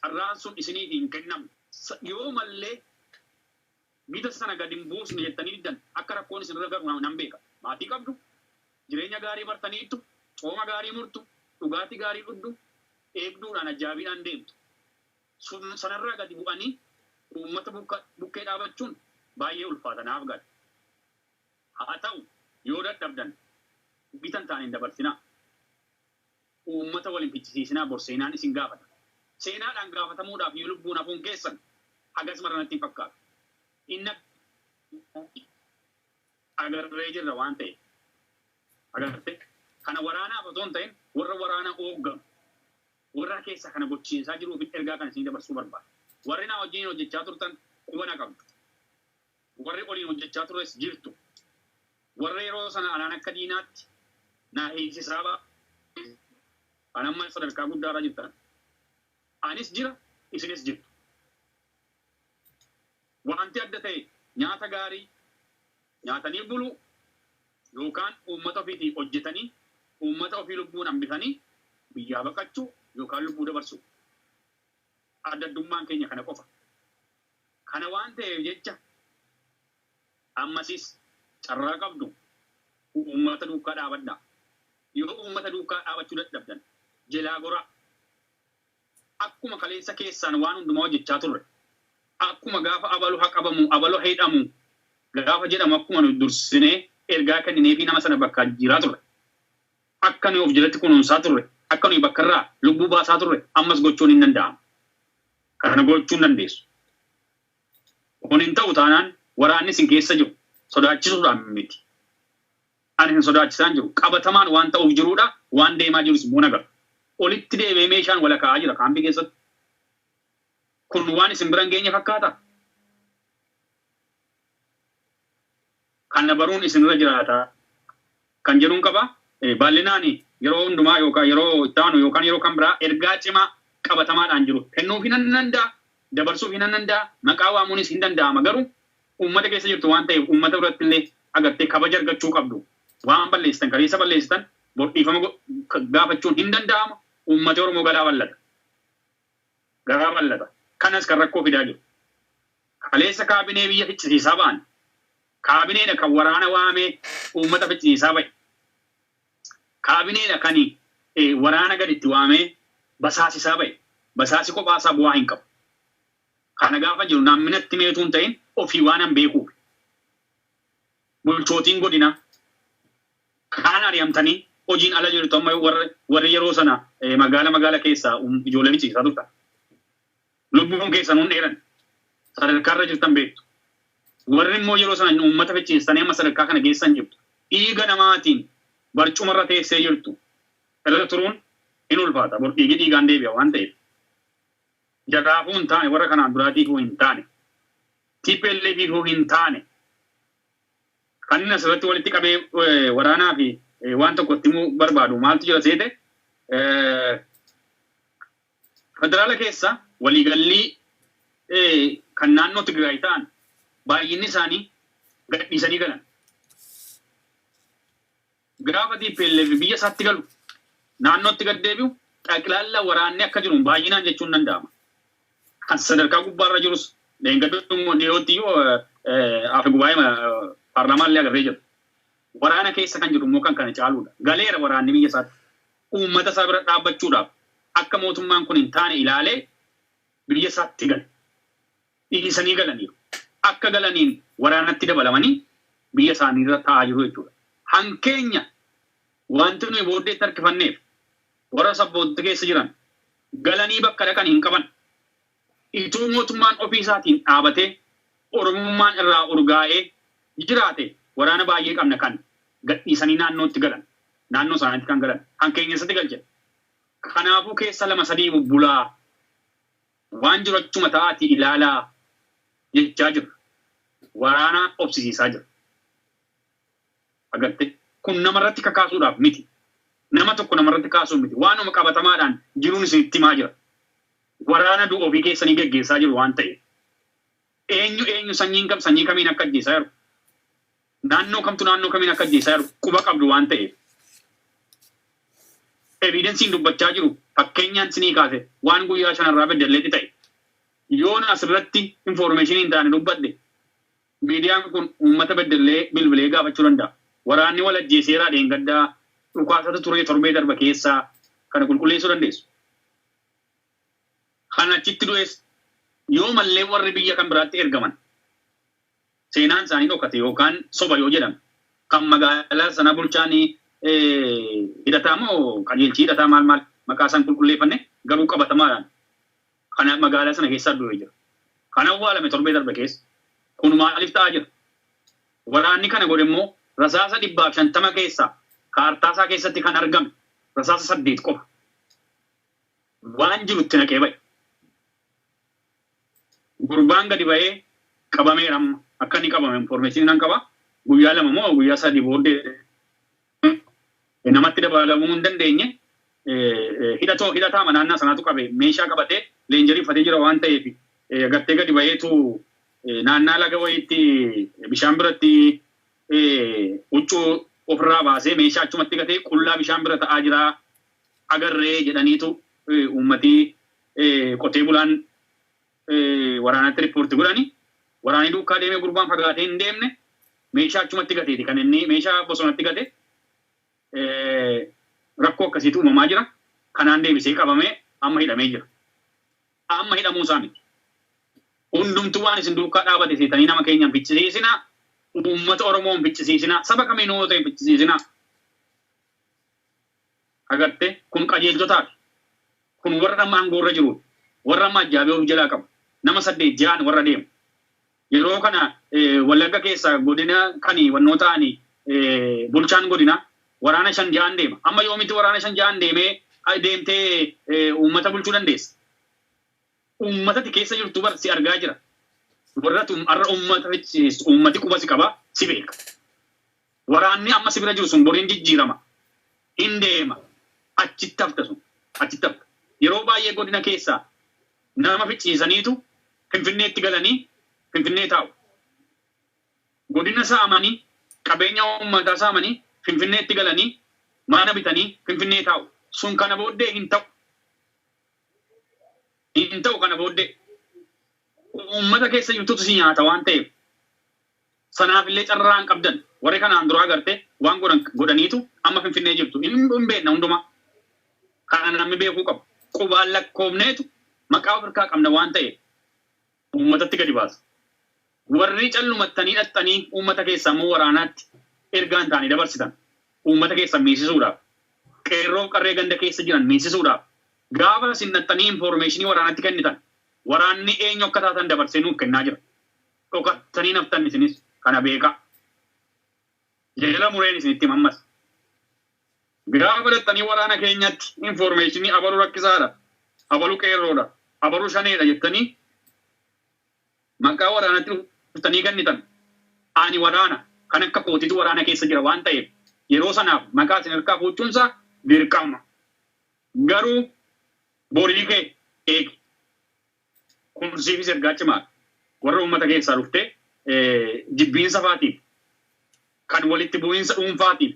carraan sun isiniif hin kennamu. Yoo mallee gita sana gad hin buusnu jettanii diddan akka rakkoon isin irra ga'u nan beeka. Maatii qabdu, jireenya gaarii bartaniittu, cooma gaarii murtu, dhugaatii gaarii dhugdu, eegduudhaan ajjaabiidhaan deemtu. Sun sanarraa gadi bu'anii uummata bukkee dhaabachuun baay'ee ulfaata naaf gala. Haa ta'u, yoo dadhabdan, gita hin taane hin dabarsinaa. Uummata wal hin ficcisiisinaa, bor seenaan isin gaafata. Seenaadhaan gaafatamuudhaaf yoo lubbuun hafuun keessan hagas mara natti hin fakkaatu. Inni abdii agarree jirra waan ta'eef. Agarte? Kana waraanaaf osoo hin ta'in warra waraana oogganu, warra keessaa kana gochiisaa jiruufin ergaa kana isinii dabarsuu barbaada. Warri naa wajjiniin hojjechaa turtan quba na qabdu. Warri waliin hojjechaa turres jirtu. Warra yeroo sana anaan akka diinaatti na hiisisaa baay'ee kan amma sadarkaa guddaarra jirtan. Anis jira, isinis jirtu. Wanti adda ta'e nyaata gaarii nyaatanii buluu yookaan uummata ofiitii hojjetanii uummata ofii lubbuun hambifanii biyyaa baqachuu yookaan lubbuu dabarsuu. Adda addummaan keenya kana qofa. Kana waan ta'eef jecha ammasis carraa qabdu uummata duukkaa dhaabadhaa. Yoo uummata duukkaa dhaabachuu dadhabdan jelaa goraa. Akkuma kaleessa keessaan waan hundumaa hojjechaa turre, akkuma gaafa abalu ha qabamu, abalu ha hidhamu gaafa jedhamu akkuma nuti dursinee ergaa kennineefii nama sana bakkaa jijjiiraa turre, akka nuyi of jalatti kunuunsaa turre, akka nuyi bakkarraa lubbuu baasaa turre ammas gochuun hin danda'amu. Kana gochuu hin dandeessu. Kun hin ta'u taanaan waraanni isin keessa jiru sodaachisuudhaan miti. Ani isin sodaachisaan jiru qabatamaan waan ta'uuf jiruudha, waan deemaa jirus immoo nagarra. Olitti deebi'ee meeshaan wala kaa'aa jira kaampii keessatti. Kun waan isin bira hin geenye fakkaata? Kana baruun isin irra jiraata kan jedhun qaba. Baal'inaan yeroo hundumaa yookaan yeroo itti aanu yookaan yeroo kan biraa ergaa cimaa qabatamaadhaan jiru kennuufii nan danda'a, dabarsuufii nan danda'a, maqaa waamuunis hin danda'ama. Garuu uummata keessa jirtu waan ta'eef uummata biratti illee agartee kabaja argachuu qabdu. Waan balleessitan, kaleessa balleessitan bor dhiifama gaafachuun hin danda'ama. Uummati Oromoo garaa bal'ata. garaa ballata. Kanas kan rakkoo fidaa jiru. Kaleessa kaabinee biyya ficcisiisaa ba'an. Kaabineedha kan waraana waamee uummata ficcisiisaa ba'e. Kaabineedha kan waraana gad itti waamee basaasisaa ba'e. Basaasi kophaa isaa bu'aa hin qabu. Kana gaafa jiru namni natti mee utuu hin ta'in ofii waanan beekuufi. Bulchootiin godinaa, Kaan ari'amtanii hojiin ala jirtu amma warri yeroo sana magaala magaala keessa ijoollee ficciisisaa turtan. Lubbuun keessan hin dheeranne. Sadarkaa irra jirtan beektu. Warri immoo yeroo sana uummata ficciisistanii amma sadarkaa kana geessan jirtu. Dhiiga namaatiin barcuma irra teessee jirtu irra turuun hin ulfaata. Bor dhiigi dhiigaan deebi'a waan ta'eef. Jaraafuu hin taane, warra kanaan duraatiifuu hin taane, TPLFiifuu hin taane. Kan inni asirratti walitti qabee waraanaa fi waan tokko itti himuu barbaadu maaltu jira seete federaala keessa waliigallii kan naannoo Tigraay ta'an baay'inni isaanii gadhiisanii galan. Gaafa tplf biyya isaatti galu, naannootti gad deebi'u, xaqilaalla waraanni akka jiruun baay'inaan jechuun danda'ama. Kan sadarkaa gubbaarra jirus dheengaduma dhiyootti iyyuu afe gubaa'ee paarlaamaa illee agarree jira. Waraana keessa kan jiru immoo kan kana caaluudha. Galeera waraanni biyya isaatti. Uummata isaa bira dhaabbachuudhaaf akka mootummaan kun hin taane ilaalee biyya isaatti gale. dhiisanii galaniiru. Akka galaniin waraanatti dabalamanii biyya isaaniirra taa'aa jiru jechuudha. Hankeenya wanti nuyi booddeetti harkifanneef warra sabboontota keessa jiran galanii bakka dhaqan hin qaban. Ituu mootummaan ofii isaatiin dhaabatee Oromummaan irraa urgaa'ee jiraate waraana baay'ee qabna kan gadhiisanii naannootti galan, naannoo isaaniitti kan galan hankeenya eessatti galchina? Kanaafuu keessa lama sadii bubbulaa Waan jiru achuma ta'aatii ilaalaa jechaa jira. Waraana obsisiisaa jira. Agartee? Kun namarratti kakaasuudhaaf miti. Nama tokko namarratti kaasuuf miti. Waanuma qabatamaadhaan jiruun isinitti himaa jira. Waraana du'a ofii keessanii geggeessaa jiru waan ta'eef. Eenyu eenyu sanyiin kam sanyii kamiin akka ajjeesaa jiru Naannoo kamtu naannoo kamiin akka ajjeesaa jiru quba qabdu waan ta'eef evidensiin dubbachaa jiru fakkeenyaan sinii kaase waan guyyaa shanarraa beddelleetti ta'e yoon asirratti information hin taane dubbadhe miidiyaan kun uummata beddellee bilbilee gaafachuu danda'a. Waraanni wal ajjeeseeraa dheengaddaa dhukaasatu turee torbee darba keessaa kana qulqulleessuu dandeessu. Kan achitti du'es yoo mallee warri biyya kan biraatti ergaman seenaan isaanii dhokate yookaan soba yoo jedhame kan magaalaa sana bulchaan hidhataa moo qajeelchi hidhataa maal maal maqaa isaan qulqulleeffanne garuu qabatamaadhaan kana magaalaa sana keessaa du'e jira. Kan awwaalame torbee darbe keessa kun maaliif ta'aa jira? Waraanni kana godhe immoo rasaasa dhibbaaf shantama keessaa kaartaa isaa keessatti kan argame rasaasa saddeet qofa. Waan jirutti naqee ba'e. Gurbaan gadi bahee qabameera amma akka inni qabame information nan qaba guyyaa lama moo guyyaa sadii booddee namatti dabaalamuu hin dandeenye hidhatoo hidhataa manaannaa sanaatu qabe meeshaa qabatee leenjarii uffatee jira waan ta'eef gartee gadi baheetu naannaa laga wayiitti bishaan biratti huccuu ofirraa baasee meeshaa achumatti gatee qullaa bishaan bira ta'aa jira agarree jedhaniitu uummatii qotee bulaan waraanatti rippoorti godhani waraanii duukaa deemee gurbaan fagaatee hin deemne meeshaa achumatti gateeti kan inni meeshaa bosonatti gate rakkoo akkasiitu uumamaa jira kanaan deebisee qabamee amma hidhamee jira amma hidhamuu isaa miti hundumtu waan isin duukaa dhaabate seetanii nama keenya hin fichisiisinaa uummata oromoo hin fichisiisinaa saba kamiinuu yoo ta'e hin fichisiisinaa Agartee? Kun qajeelchotaafi. Kun warra amma angoorra jiruudha. Warra amma ajjaabee of jalaa qabu. Nama saddeet ja'an warra deemu. Yeroo kana Wallagga keessaa godina kani wannoo ta'ani bulchaan godinaa waraana shan ja'an deema. Amma yoomitti waraana shan ja'an deemee deemtee uummata bulchuu dandeessa? Uummata ati keessa jirtu bar si argaa jira. Warra ati har'a uummata ficciisistu uummati quba si qaba, si beeka. Waraanni amma si bira jiru sun boriin jijjiirama. Hin deema. Achitti hafta sun. Achitti hafta. Yeroo baay'ee godina keessaa nama ficcisiisaniitu Finfinneetti galanii Finfinnee taa'u. Godina saamanii, qabeenya uummataa saamanii Finfinneetti galanii mana bitanii Finfinnee taa'u. Sun kana booddee hin ta'u. Hin ta'u kana booddee. Uummata keessa jirtutu si nyaata waan ta'eef. Sanaaf illee carraa hin qabdan. Warri kanaan duraa garte waan godhan godhaniitu amma Finfinnee jirtu. Hin hin beekna hundumaa. Kana namni beekuu qabu. Qubaan lakkoofneetu maqaa of irkaa qabna waan ta'eef uummatatti gadi baasa. Warri callumattanii dhaqxanii uummata keessaa immoo waraanaatti ergaa hin taane dabarsitan uummata keessan miisisuudhaaf, qeerroof qarree ganda keessa jiran miisisuudhaaf gaafa isin dhaqxanii infoormeeshinii waraanatti kennitan waraanni eenyu akka taatan dabarsee nuuf kennaa jira. dhoka tanii naftan isinis kana beeka jala mureen isinitti hima ammas gaafa dhaxxanii waraana keenyatti informeeshinii abalu rakkisaadha abalu qeerroodha abalu shaneedha jettanii maqaa waraanatti dhuftanii kennitan ani waraana kan akka kootitu waraana keessa jira waan ta'eef yeroo sanaaf maqaa isin harkaa fuuchuunsa dirqama garuu borii kee eegi Kumsiifis ergaa cimaadha. Warra uummata keessaa dhuftee jibbiinsa faatiif kan walitti bu'iinsa dhuunfaatiif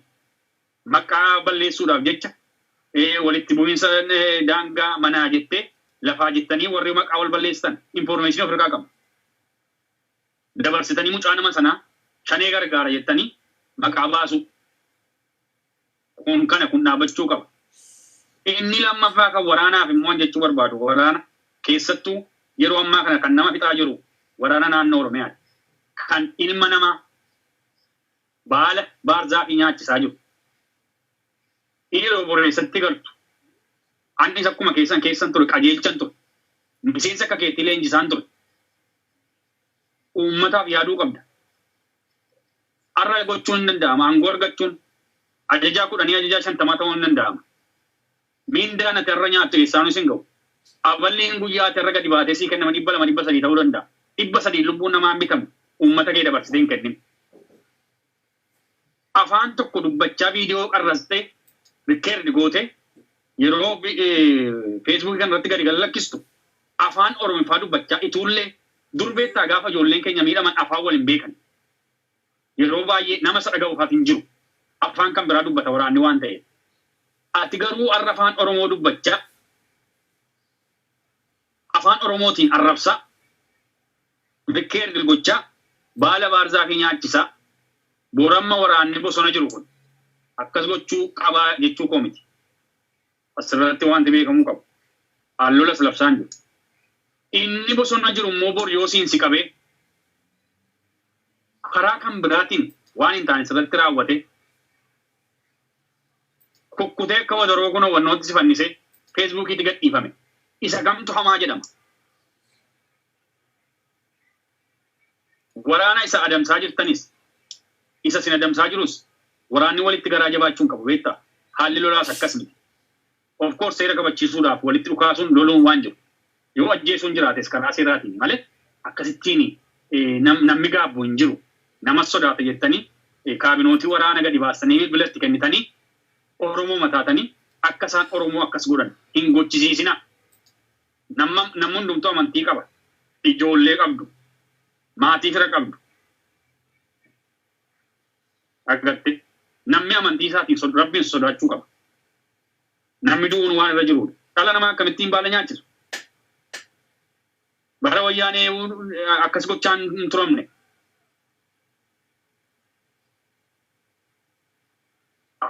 maqaa balleessuudhaaf jecha walitti bu'iinsa daangaa manaa jettee lafaa jettanii warri maqaa wal balleessitan infoormeeshinii of irraa qabna. Dabarsitanii mucaa nama sanaa shanee gargaara jettanii maqaa baasuu. Kun kana kun dhaabachuu qaba. Inni lammaffaa kan waraanaaf immoo an jechuu barbaadu waraana keessattuu yeroo ammaa kana kan nama fixaa jiru waraana naannoo Oromiyaati. Kan ilma namaa baala baarzaafii nyaachisaa jiru. Inni yeroo borreessatti galtu anis akkuma keessan keessan ture qajeelchan ture. Miseensa akka keetii leenjisaan ture. Uummataaf yaaduu qabda. Har'a gochuun hin danda'ama. Aangoo argachuun ajajaa kudhanii ajajaa shantamaa ta'uun hin danda'ama. Mindaan ati har'a nyaattu eessaanuu sin ga'u. Aballiin guyyaa ati har'a gadi baatee sii kenname dhibba lama dhibba sadii ta'uu danda'a. Dhibba sadiin lubbuun namaa hin bitamu. Uummata kee dabarsitee hin kennin. Afaan tokko dubbachaa viidiyoo qarrastee rikkeerdi gootee yeroo feesbuukii kana irratti gadi gallakkistu afaan Oromiffaa dubbachaa ituullee dur beektaa gaafa ijoolleen keenya miidhaman afaan wal hin beekan. Yeroo baay'ee nama isa dhaga'u haf hin jiru. Affaan kan biraa dubbata waraanni waan ta'eef. Ati garuu arra afaan Oromoo dubbachaa afaan Oromootiin arrabsaa, reckeargle gochaa, baala baarzaafii nyaachisaa, bor amma waraanni bosona jiru kun akkas gochuu qabaa jechuu koo miti. Asirratti wanti beekamuu qabu an lolas labsaan jiru. Inni bosona jiru immoo bor yoo siin si qabee karaa kan biraatiin waan hin taane sirratti raawwate kukkutee akka wadaroo kun hubannootti si fannisee feesbuukiitti gadhiifame isa kamtu hamaa jedhama. Waraana isa adamsaa jirtanis, isa isin adamsaa jirus waraanni walitti garaa jabaachuu hin qabu beektaa. Haalli lolaas akkas miti. Of course seera kabachiisuudhaaf walitti dhukaasuun, loluun waan jiru. Yoo ajjeesuun jiraates karaa seeraatiin malee akkasittiin namni gaabbu hin jiru. Namas sodaata jettanii kaabinootii waraana gadi baastanii bilbila itti kennitanii Oromooma taatanii akka isaan Oromoo akkas godhan hin gochisiisinaa. Namma namni hundumtuu amantii qaba. Ijoollee qabdu. Maatii fira qabdu. Argatte. Namni amantii isaatiin sod- rabbiin sodaachuu qaba. Namni du'uun waan irra jiruudha. Dhala namaa akkamittiin baala nyaachisu? Bara wayyaanee akkas gochaan hin turamne.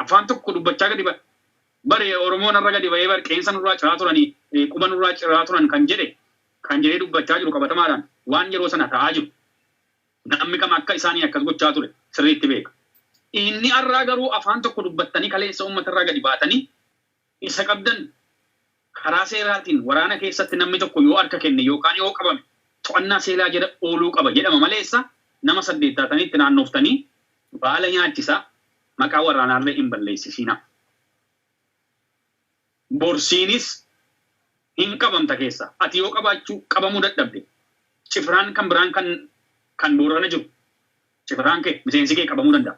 afaan tokko dubbachaa gadi ba'e. Bar Oromoo narra gadi ba'ee bar qeensa nurraa ciraa turanii eh, quba nurraa ciraa turan kan jedhe kan jedhee dubbachaa jiru qabatamaadhaan waan yeroo sana ta'aa jiru namni kam akka isaanii akkas gochaa ture sirriitti beeka. Inni arraa garuu afaan tokko dubbattanii kaleessa uummatarraa gadi baatanii isa qabdan karaa seeraatiin waraana keessatti namni tokko yoo harka kenne yookaan yoo qabame to'annaa seeraa jala ooluu qaba jedhama maleessa nama saddeet taatanii itti naannooftanii baala nyaachisaa maqaa waraanaallee hin balleessisiinaa. Bor siinis hin qabamta keessaa ati yoo qabaachuu qabamuu dadhabde cifraan kan biraan kan kan Boorana jiru Cifataan kee, miseensi kee qabamuu danda'a.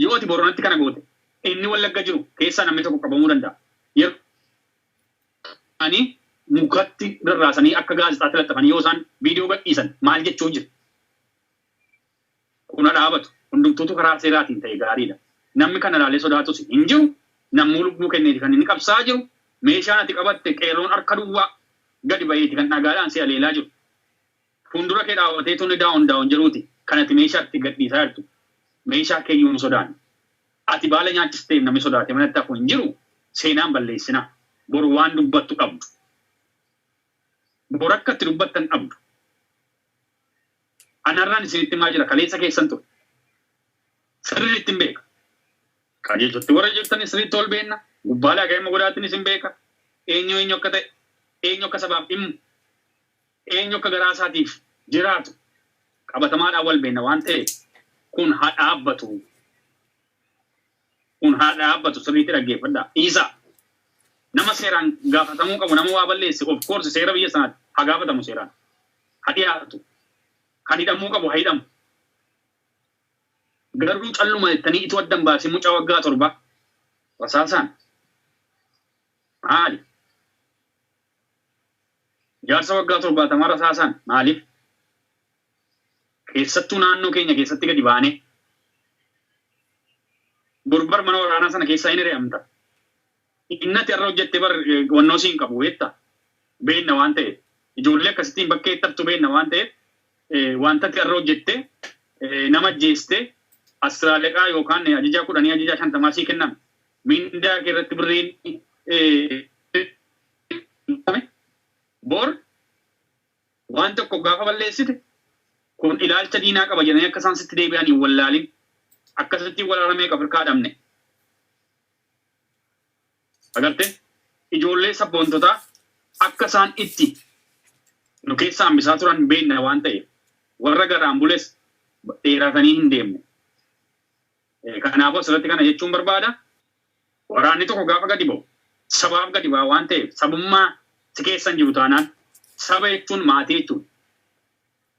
Yoo ati Booranatti kana goote, inni Wallagga jiru keessaa namni tokko qabamuu danda'a. Yeroo isaanii mukatti rarraasanii akka gaazexaatti laxxafanii yoo isaan viidiyoo gadhiisan maal jechuuf jiru? Kun ha dhaabatu. Hundumtuutu karaa seeraatiin ta'e gaariidha. Nammi kana ilaalee sodaatus hin jiru. Nammuu lubbuu kenneeti kan inni qabsaa'aa jiru. Meeshaan ati qabatte qeerroon harka duwwaa gadi baheeti kan dhagaadhaan si haleelaa jiru. Fuundura kee dhaabbatee tuni down down jedhuuti kan ati meeshaa itti gadhiisaa jirtu. Meeshaa keeyyuu hin sodaanne. Ati baala nyaachisteef namni sodaatee manatti hafu hin jiru. Seenaa hin balleessinaa. Boru waan dubbattu dhabdu. Boru akka itti dubbattan dhabdu. Ani har'aan isinitti himaa jira kaleessa keessan ture. Sirriittin beeka. Qajeelchatti warra jirtanis sirriitti wal beenna. Gubbaa laga immoo godaattinis hin beeka. Eenyu eenyu akka ta'e, eenyu akka sabaaf dhimmu. Eenyu akka garaa isaatiif jiraatu qabatamaadhaan wal beenna waan ta'eef kun haa dhaabbatu. Kun haa dhaabbatu sirriitti dhaggeeffadhaa. Dhiisaa. Nama seeraan gaafatamuu qabu nama waa balleesse of course seera biyya sanaatti haa gaafatamu seeraan. Haa dhiyaatu. Kan hidhamuu qabu haa hidhamu. Garuu calluma jettanii ituu addan baasee mucaa waggaa torbaa rasaasaan maali? Jaarsa waggaa torbaatamaa rasaasaan maaliif keessattuu naannoo keenya keessatti gadi baanee borbar mana waraanaa sana keessaa hin hiri'amta. Innati irra hojjette bar wannoo siin qabu beekta beenna waan ta'eef ijoollee akkasittiin bakkee itti haftu beenna waan ta'eef wantatti irra hojjette nama ajjeeste asiraaleqaa yookaan ajajaa kudhanii ajajaa shantamaa sii kenname mindaa kee irratti birriin Dhiifame. Bor waan tokko gaafa balleessite kun ilaalcha diinaa qaba jedhanii akka isaan sitti deebi'an hin wallaalin. Akkasittiin wal arameeqa of hirkaa dhabne. Agarte ijoollee sabboontotaa akka isaan itti nu keessa hambisaa turan beenna waan ta'eef warra garaan bules dheeraatanii hin deemne. Kanaafuu asirratti kana jechuun barbaada. Waraanni tokko gaafa gadi ba'u sabaaf gadi ba'a waan ta'eef sabummaa si keessa hin jiru taanaan saba jechuun maatii jechuudha.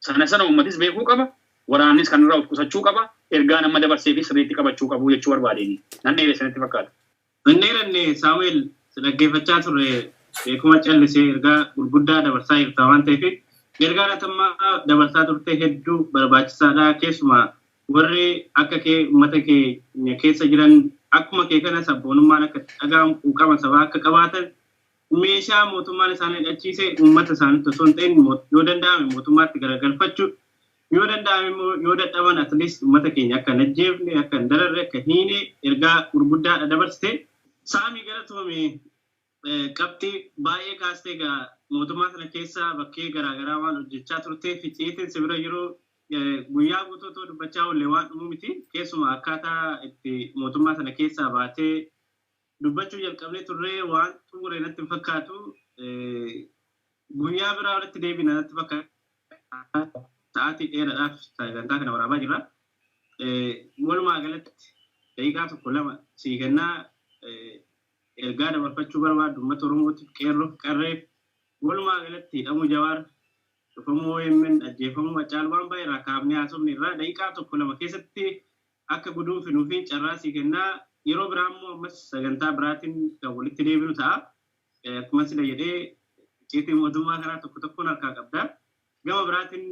Sana sana uummatis beekuu qaba, waraannis kanarraa of qusachuu qaba, ergaan amma dabarseefis sirriitti qabachuu qabu jechuu barbaadeen. Nan dheeresse natti fakkaata. Hin dheeranne Saamu'eel, si dhaggeeffachaa turre beekuma callisee ergaa gurguddaa dabarsaa jirta waan ta'eef. Ergaan ati amma dabarsaa turte hedduu barbaachisaadha, keessumaa Warri akka kee ummata keenya keessa jiran akkuma kee kana sabboonummaan akka itti dhaga'amu quuqama sabaa akka qabaatan meeshaa mootummaan isaan hidhachiise ummata isaanitti osoo hin ta'in yoo danda'ame mootummaatti garagalfachu yoo danda'ame immoo yoo dadhaban at least ummata keenya akka hin ajjeefne akka hin dararre akka hin hiine ergaa gurguddaadha dabarsite. Saami galatoomi. Qabxii baay'ee kaastee egaa mootummaa sana keessa bakkee garaa garaa waan hojjechaa turteef ficiitiin si bira jiru guyyaa guutuu otoo dubbachaa oollee waan dhumu miti. Keessumaa akkaataa itti mootummaa sana keessaa baatee dubbachuu jalqabnee turree waan xumure natti hin fakkaatu. Guyyaa biraa walitti deebina natti fakkaata. Sa'aatii dheeraadhaaf sagantaa kana waraabaa jirra. Walumaa galatti daqiiqaa tokko lama sii kennaa Ergaa dabarfachuu barbaaddu ummata Oromootiif, Qeerroof, Qarreef, walumaa galatti hidhamuu Jawaar, cufamuu omn, ajjeefamuu Haccaalu waan baay'ee irraa kaafnee haasofne irraa daqiiqaa tokko lama keessatti akka guduunfinuufiin carraa sii kennaa. Yeroo biraa immoo ammas sagantaa biraatiin kan walitti deebinu ta'a. Akkuman sila jedhee icciitii mootummaa kanaa tokko tokkoon harkaa qabda. Gama biraatiin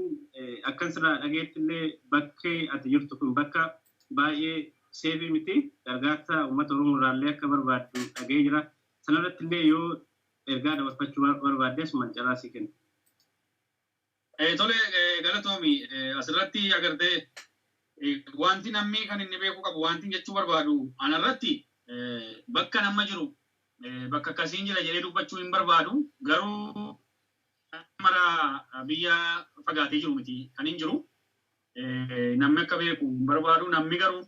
akkan sirraa dhagayetti illee bakki ati jirtu kun bakka baay'ee seefii miti. Gargaarsa uummata Oromoo irraa illee akka barbaaddu dhagahee jira. Sana irratti illee yoo ergaa dabarfachuu barbaadde asumaan carraa sii kenna. Tole galatoomi. As irratti agartee wanti namni kan inni beekuu qabu wanti jechuu barbaadu ana irratti bakka nama jiru bakka akkasiin jira jedhee dubbachuu hin barbaadu garuu Namni mara biyya fagaatee jiru miti kan hin jiru. Namni akka beeku hin barbaadu. Namni garuu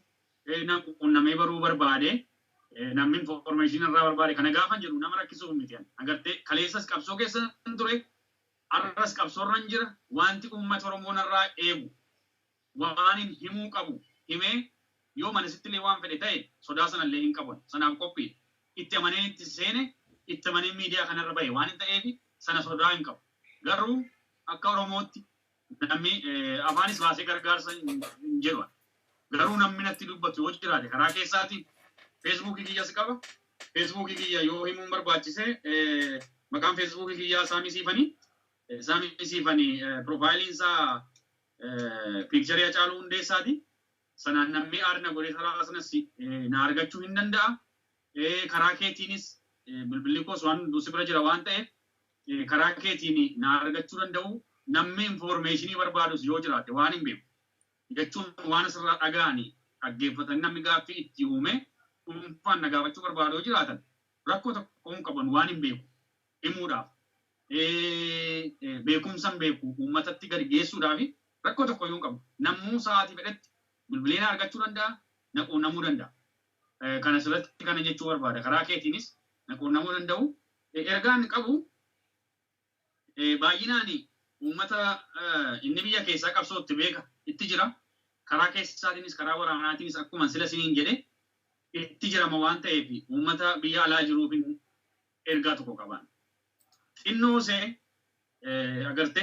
na quunnamee baruu barbaade, namni information irraa barbaade kana gaafan jedhu nama rakkisuuf miti ani. Agartee kaleessas qabsoo keessan ture, har'as qabsoo irran jira. Wanti uummati Oromoo narraa eegu Waanin himuu qabu himee, yoo manasittillee waan fedhe ta'e sodaa sanallee hin qabon. Sanaaf qophiidha. Itti amaneen itti seene, itti amaneen miidiyaa kanarra bahe waanin ta'eef sana sodaa hin qabu. Garuu akka Oromootti nammi afaanis baasee gargaarsa hin jedhu ani. Garuu nammi natti dubbatu yoo jiraate karaa keessaatiin feesbuukii kiyyas qaba. Feesbuukii kiyya yoo himuun barbaachise maqaan feesbuukii kiyyaa Saamii Siifanii. Saamii Siifanii piroofaayiliin isaa Picture Hacaaluu Hundeessaati. Sanaan nammee aad na godhee karaa sanas na argachuu hin danda'a. Karaa keetiinis bilbilli koos waan duusi bira jira waan ta'eef karaa keetiin na argachuu danda'u. Namni information barbaadus yoo jiraate waan hin beeku jechuun waan asirraa dhaga'anii dhaggeeffatanii namni gaaffii itti uumee dhuunfaan na gaafachuu barbaadu yoo jiraatan rakkoo tokko hin qaban waan hin beeku himuudhaaf, beekumsan beeku uummatatti gadi geessuudhaafi rakkoo tokkoyyuu hin qabu. Namuu sa'aatii fedhetti bilbilee na argachuu danda'a, na quunnamuu danda'a. Kan asirratti kana jechuu barbaada. Karaa keetiinis na quunnamuu danda'u. Ergaan qabu baay'inaan uummata inni biyya keessaa qabsoo itti beeka itti jira. Karaa keessaatiinis karaa waraanaatiinis akkuma sila isiniin jedhe itti jirama waan ta'eef uummata biyya alaa jiruufin ergaa tokko qabaan. Xinnoo see agarte.